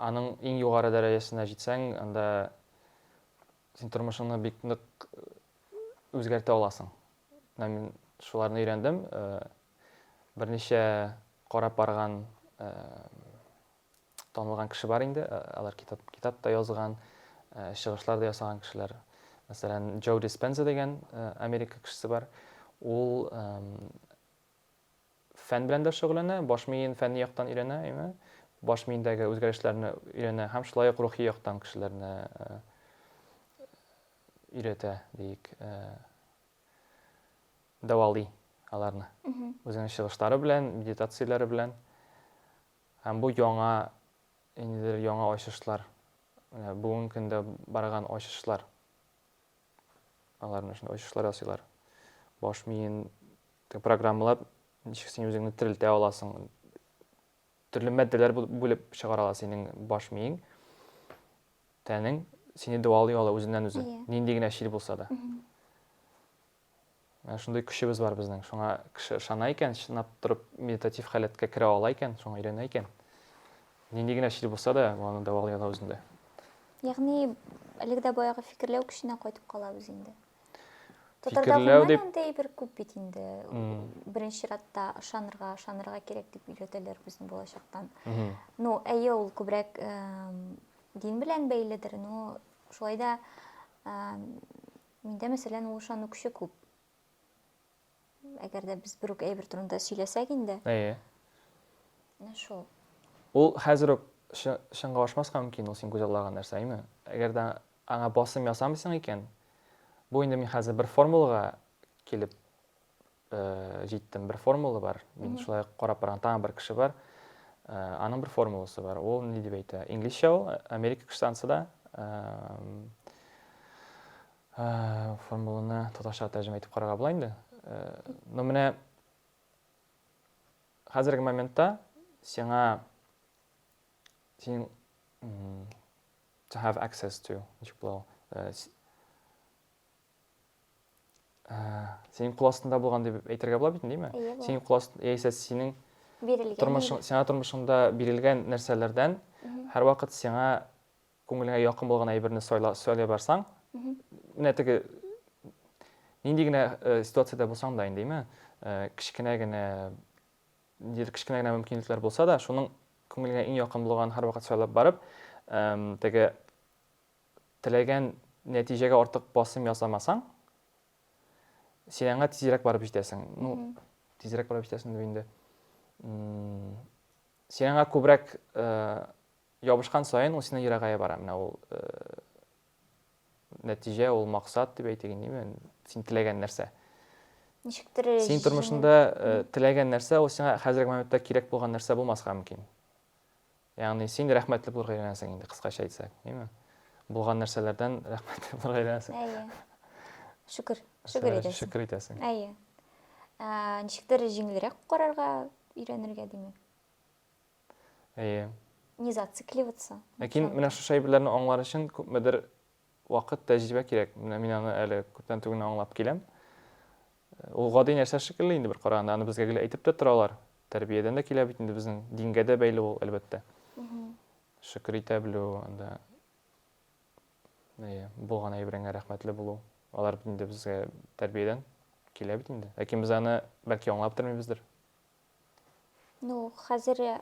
аның иң югары дәрәҗәсенә җитсәң, анда син тормышыңны бик нык үзгәртә аласың. Менә мин шуларны өйрәндем. Берничә карап барган танылган кеше бар инде, э, алар китап, китап та язган, э, чыгышлар да ясаган кешеләр. Мәсәлән, Джо Диспенза дигән э, Америка кешесе бар. Ул фән белән дә шөгыльләнә, баш миен фәнни яктан өйрәнә, әйме? Баш миендәге үзгәрешләрне өйрәнә һәм шулай ук рухи яктан кешеләрне өйрәтә, диик, дәвалый аларны. Үзенең чыгышлары белән, медитацияләре белән. Һәм бу яңа, ниндидер яңа ачышлар, менә бүгенге көндә барган ачышлар. Алар менә шундый ачышлар ясыйлар. Баш миен программалап, ничек син үзеңне терелтә аласың. Төрле матдәләр бүлеп чыгара ала синең баш миең, тәнең сине дәвалый ала үзеннән-үзе, нинди генә чир булса да. Менә шундый көчебез бар безнең. Шуңа кеше ышана икән, чынлап торып медитатив халәткә керә ала икән, шуңа өйрәнә икән. Нинди генә чир булса да, аны дәвалый ала үзендә. Ягъни әлеге дә баягы фикерләү көченә кайтып калабыз инде. Татарда гомумән дип... андый бер күп бит инде. Беренче чиратта ышанырга, ышанырга кирәк дип өйрәтәләр безне балачактан. Ну, әйе, ул күбрәк дин белән бәйледер, но шулай да Миндә, мәсәлән, ул ышанукчы күп. Әгәр дә без бер үк әйбер турында сөйләсәк инде. Әйе. Менә шул. Ул хәзер үк чынга ашмаска мөмкин ул син күзаллаган нәрсә, әйме? Әгәр дә аңа басым ясамыйсың икән, бу инде мин хәзер бер формулага килеп җиттем. Бер формула бар. Мин шулай карап барган тагын бер кеше бар. Аның бер формуласы бар. Ул ни дип әйтә? Инглизчә ул, Америка кешесансы да. Формуланы татарча тәрҗемә итеп карарга була инде. Но менә хәзерге моментта сиңа син to have access to ничек була ул? ә, сенің қол астында болған деп әйтергә була бит дейме иә сенің қол астында яисә синең бирелгән тормышың сиңа тормышыңда бирелгән нәрсәләрдән һәрвакыт сиңа күңелеңә якын булган әйберне сайла, сайлай барсаң менә теге нинди генә э, ситуациядә булсаң да инде э, кечкенә генә ниндидер кечкенә генә мөмкинлекләр булса да шуның күңелеңә иң якын булган һәрвакыт сайлап барып теге теләгән нәтиҗәгә артык басым ясамасаң, син аңа тизрәк барып җитәсең. Ну, тизрәк барып җитәсең дип инде. Син аңа күбрәк э, ябышкан саен ул синнән ерагая бара. Менә ул э, нәтиҗә, ул максат дип әйтик инде, син теләгән нәрсә. Ничектер Син тормышында э, теләгән нәрсә, ул сиңа хәзерге моментта кирәк булган нәрсә булмаска мөмкин. Ягъни син рәхмәтле булырга өйрәнәсең инде, кыскача әйтсәк, димме? Булган нәрсәләрдән рәхмәтле булырга өйрәнәсең. Әйе. Шөкер, шөкер итәсең. Шөкер итәсең. Әйе. Ә, ничектер җиңелрәк карарга өйрәнергә диме? Әйе. Не зацикливаться. Ләкин менә шушы әйберләрне аңлар өчен күпмедер Вакыт, тәҗрибә кирәк. Менә мин аны әле күптән түгел генә аңлап киләм. Ул гади нәрсә шикелле инде бер караганда, аны безгә гел әйтеп тә торалар. Тәрбиядән дә килә бит инде безнең, дингә дә бәйле ул, әлбәттә. Шөкер итә белү, анда әйе, булган әйбереңә рәхмәтле булу. Алар бит инде безгә тәрбиядән килә бит инде. Ләкин без аны бәлки аңлап тормыйбыздыр. Ну, хәзер э,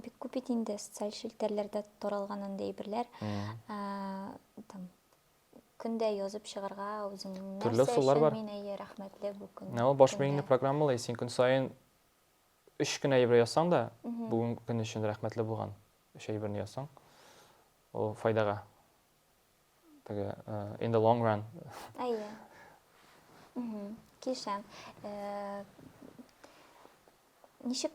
бик күп бит инде социаль челтәрләрдә таралган андый әйберләр. Э, там көндә язып чыгарга үзең Төрле нәрсә ысуллар өчен бар. мин әйе рәхмәтле бу көн. Ә ул баш көнгә. миеңне программалый, син көн саен өч кенә әйбер язсаң да, Мгм. бүген көн өчен рәхмәтле булган өч әйберне язсаң, ул файдага Теге in the long run. Әйе. Килешәм. Ничек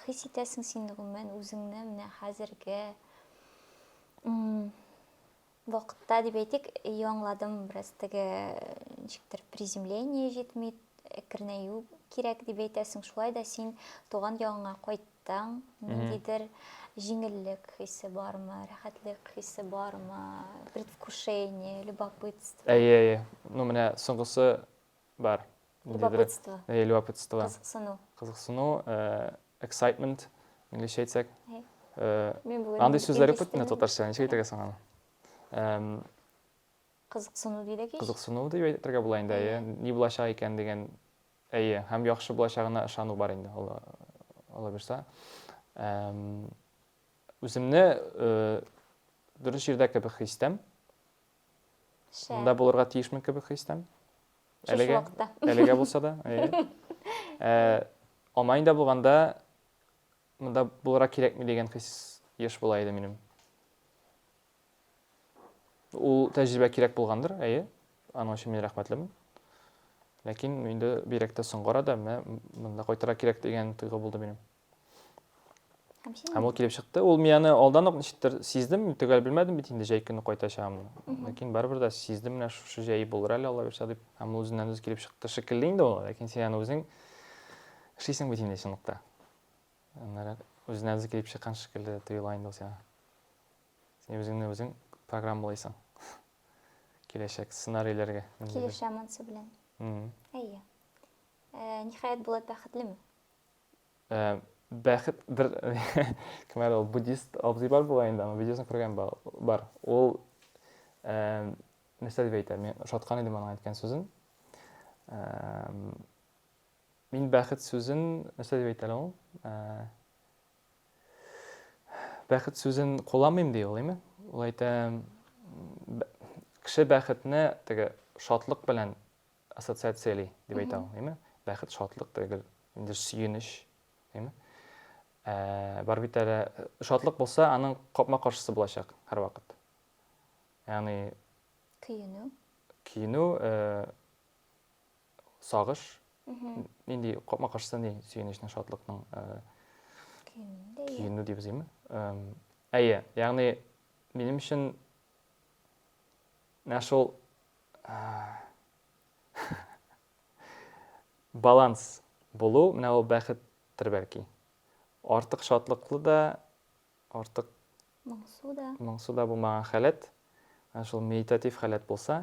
хис итәсең син гомумән үзеңне менә хәзерге вакытта дип әйтик, яңладым бераз теге ничектер приземление җитми, әкренәю кирәк дип әйтәсең. Шулай да син туган ягыңа кайт Таң, ниндидер җиңеллек хисе бармы, рәхәтлек хисе бармы, предвкушение, любопытство? Әйе, әйе. Ну, менә соңгысы бар. Любопытство. Әйе, любопытство. Кызыксыну. Кызыксыну, э, excitement, инглизчә әйтсәк. Э, андый сүзләр юк бит менә татарча, ничек әйтергә соң аны? Кызыксыну дидек ич. Кызыксыну дип әйтергә була инде, әйе. Ни булачак икән дигән Әйе, һәм яхшы булачагына ышану бар инде, Алла, Алла бирса. Эм, үземне э, дөрес җирдә кебек хис итәм. Шә. Монда булырга тиешмен кебек хис итәм. Шушы Әлегә, вакытта. әлегә булса да. әйе. Э, Алманиядә булганда монда булырга кирәкми дигән хис еш була иде минем. Ул тәҗрибә кирәк булгандыр, әйе. Аның өчен мин рәхмәтлемен. Ләкин инде бигрәк тә соңгы арада менә монда кайтырга кирәк дигән тойгы булды минем. Һәм син? Һәм ул килеп чыкты. Ул мин аны алдан ук ничектер сиздем, мин төгәл белмәдем бит инде җәй көне кайтачагымны. Ләкин барыбер дә сиздем менә шушы җәй булыр әле Алла бирсә дип. Һәм ул үзеннән үзе килеп чыкты шикелле инде ул, ләкин син аны үзең эшлисең бит инде чынлыкта. Аннары үзенә үзе килеп чыккан шикелле тоела инде ул сиңа. Син үзеңне үзең программалыйсың. Киләчәк сценарийләргә. Килешә монсы белән. Әйе. Э, ниһаять Булат бәхетлеме? Э, бәхет бер кем әле ул буддист абзый бар була инде, аның видеосын күргән бар. Ул э, нәрсә дип әйтә? Мин ошаткан идем аның әйткән сүзен. Мин бәхет сүзен нәрсә дип әйтәләр ул? Бәхет сүзен кулланмыйм ди ул, әйме? Ул әйтә, кеше бәхетне теге шатлык белән ассоциацияли дип әйтә ул, әйме? Бәхет шатлык түгел, инде сөенеч, әйме? Ә, бар бит әле шатлык булса, аның капма-каршысы булачак һәрвакыт. Ягъни көенү. Көенү, э, сагыш, нинди капма-каршысы ни сөенечнең, шатлыкның көенү дибез име? Әйе, ягъни минем өчен менә шул баланс булу, менә ул бәхеттер бәлки. Артык шатлыклы да, артык моңсу да. Моңсу да булмаган халәт, шул медитатив халәт булса,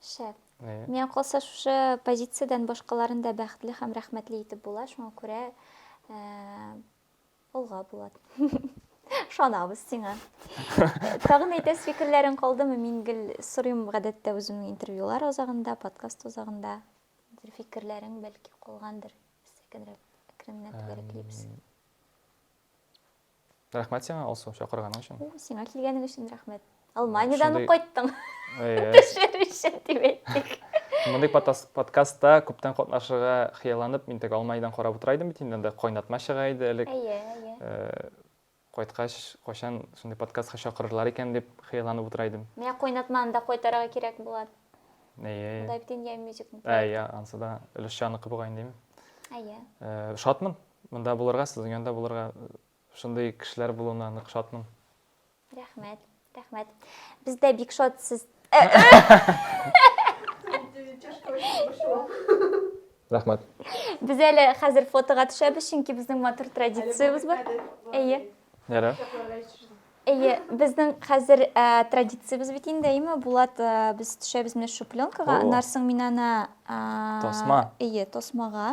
Шәп. Э. Миңа калса шушы позициядән башкаларын да бәхетле һәм рәхмәтле итеп була, шуңа күрә алга Булат. Ышанабыз сиңа. Тагын әйтәс фикерләрең калдымы? Мин гел сорыйм гадәттә үземнең интервьюлар азагында, подкаст азагында. Бер фикерләрең бәлки калгандыр. Сәкенрәк, әкренләп төгәләклибез. Рәхмәт сиңа, Алсу, чакырганың өчен. Сиңа килгәнең өчен рәхмәт. Алманиядән ук кайттың. Төшер өчен дип әйттек. Мондый подкастта күптән катнашырга хыялланып, мин тек Алманиядән карап утыра идем бит инде, кайнатма чыга иде элек. Әйе, әйе. Э, кайткач, кайчан шундый подкастка чакырырлар икән дип хыялланып утыра идем. Менә кайнатманы да кайтарырга кирәк була. Әйе. Монда бит инде мюзикл. Әйе, ансы да өлешчәнеке бугай инде. Әйе. Э, шатмын. Монда булырга, сезнең янда булырга, шундый кешеләр булуына нык шатмын. Рәхмәт, рәхмәт. Без дә бик шат сез. Рәхмәт. Без әле хәзер фотога төшәбез, чөнки безнең матур традициябез бар. Әйе. Ярар. Әйе, безнең хәзер ә, традициябез бит инде, әйеме, Булат, ә, без төшәбез менә шу пленкага, О. аннан соң мин аны... ә, Тасма. Әйе, тасмага.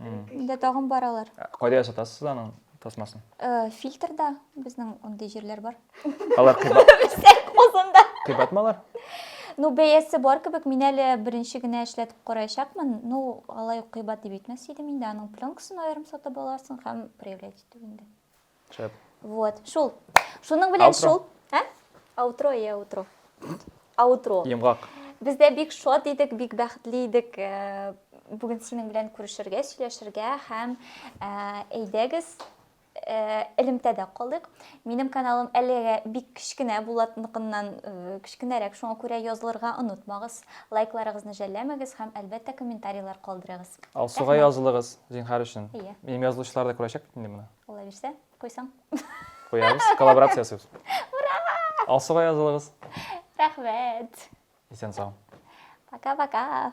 Инде тагын баралар. Кайда ясатасыз аның тасмасын? Э, фильтрда безнең андый җирләр бар. Алар кыйбат. Козында. Кыйбат малар? Ну, бәясе бар кебек, мин әле беренче генә эшләтеп караячакмын. Ну, алай ук кыйбат дип әйтмәс идем инде. Аның пленкасын аерым сатып аласың һәм проявлять итү инде. Шәп. Вот, шул. Шуның белән Аутро. шул. Ә? Аутро, я аутро. Аутро. Йомгак. Без дә бик шат идек, бик бәхетле идек. Э, Бүген синең белән күрешергә, сөйләшергә һәм э, әйдәгез э, элемтәдә калыйк. Минем каналым әлегә бик кечкенә Булатныкыннан э, кечкенәрәк, шуңа күрә язылырга онытмагыз. Лайкларыгызны жәлләмәгез һәм әлбәттә комментарийлар калдырыгыз. Алсуга Рәхмәт. язылыгыз, зинһар өчен. Иә. Минем язылучылар да күрәчәк бит инде моны. Була бирсә, куйсаң. Куябыз, коллаборация ясыйбыз. Ура! Алсуга язылыгыз. Рәхмәт. Исән сау. Пока-пока.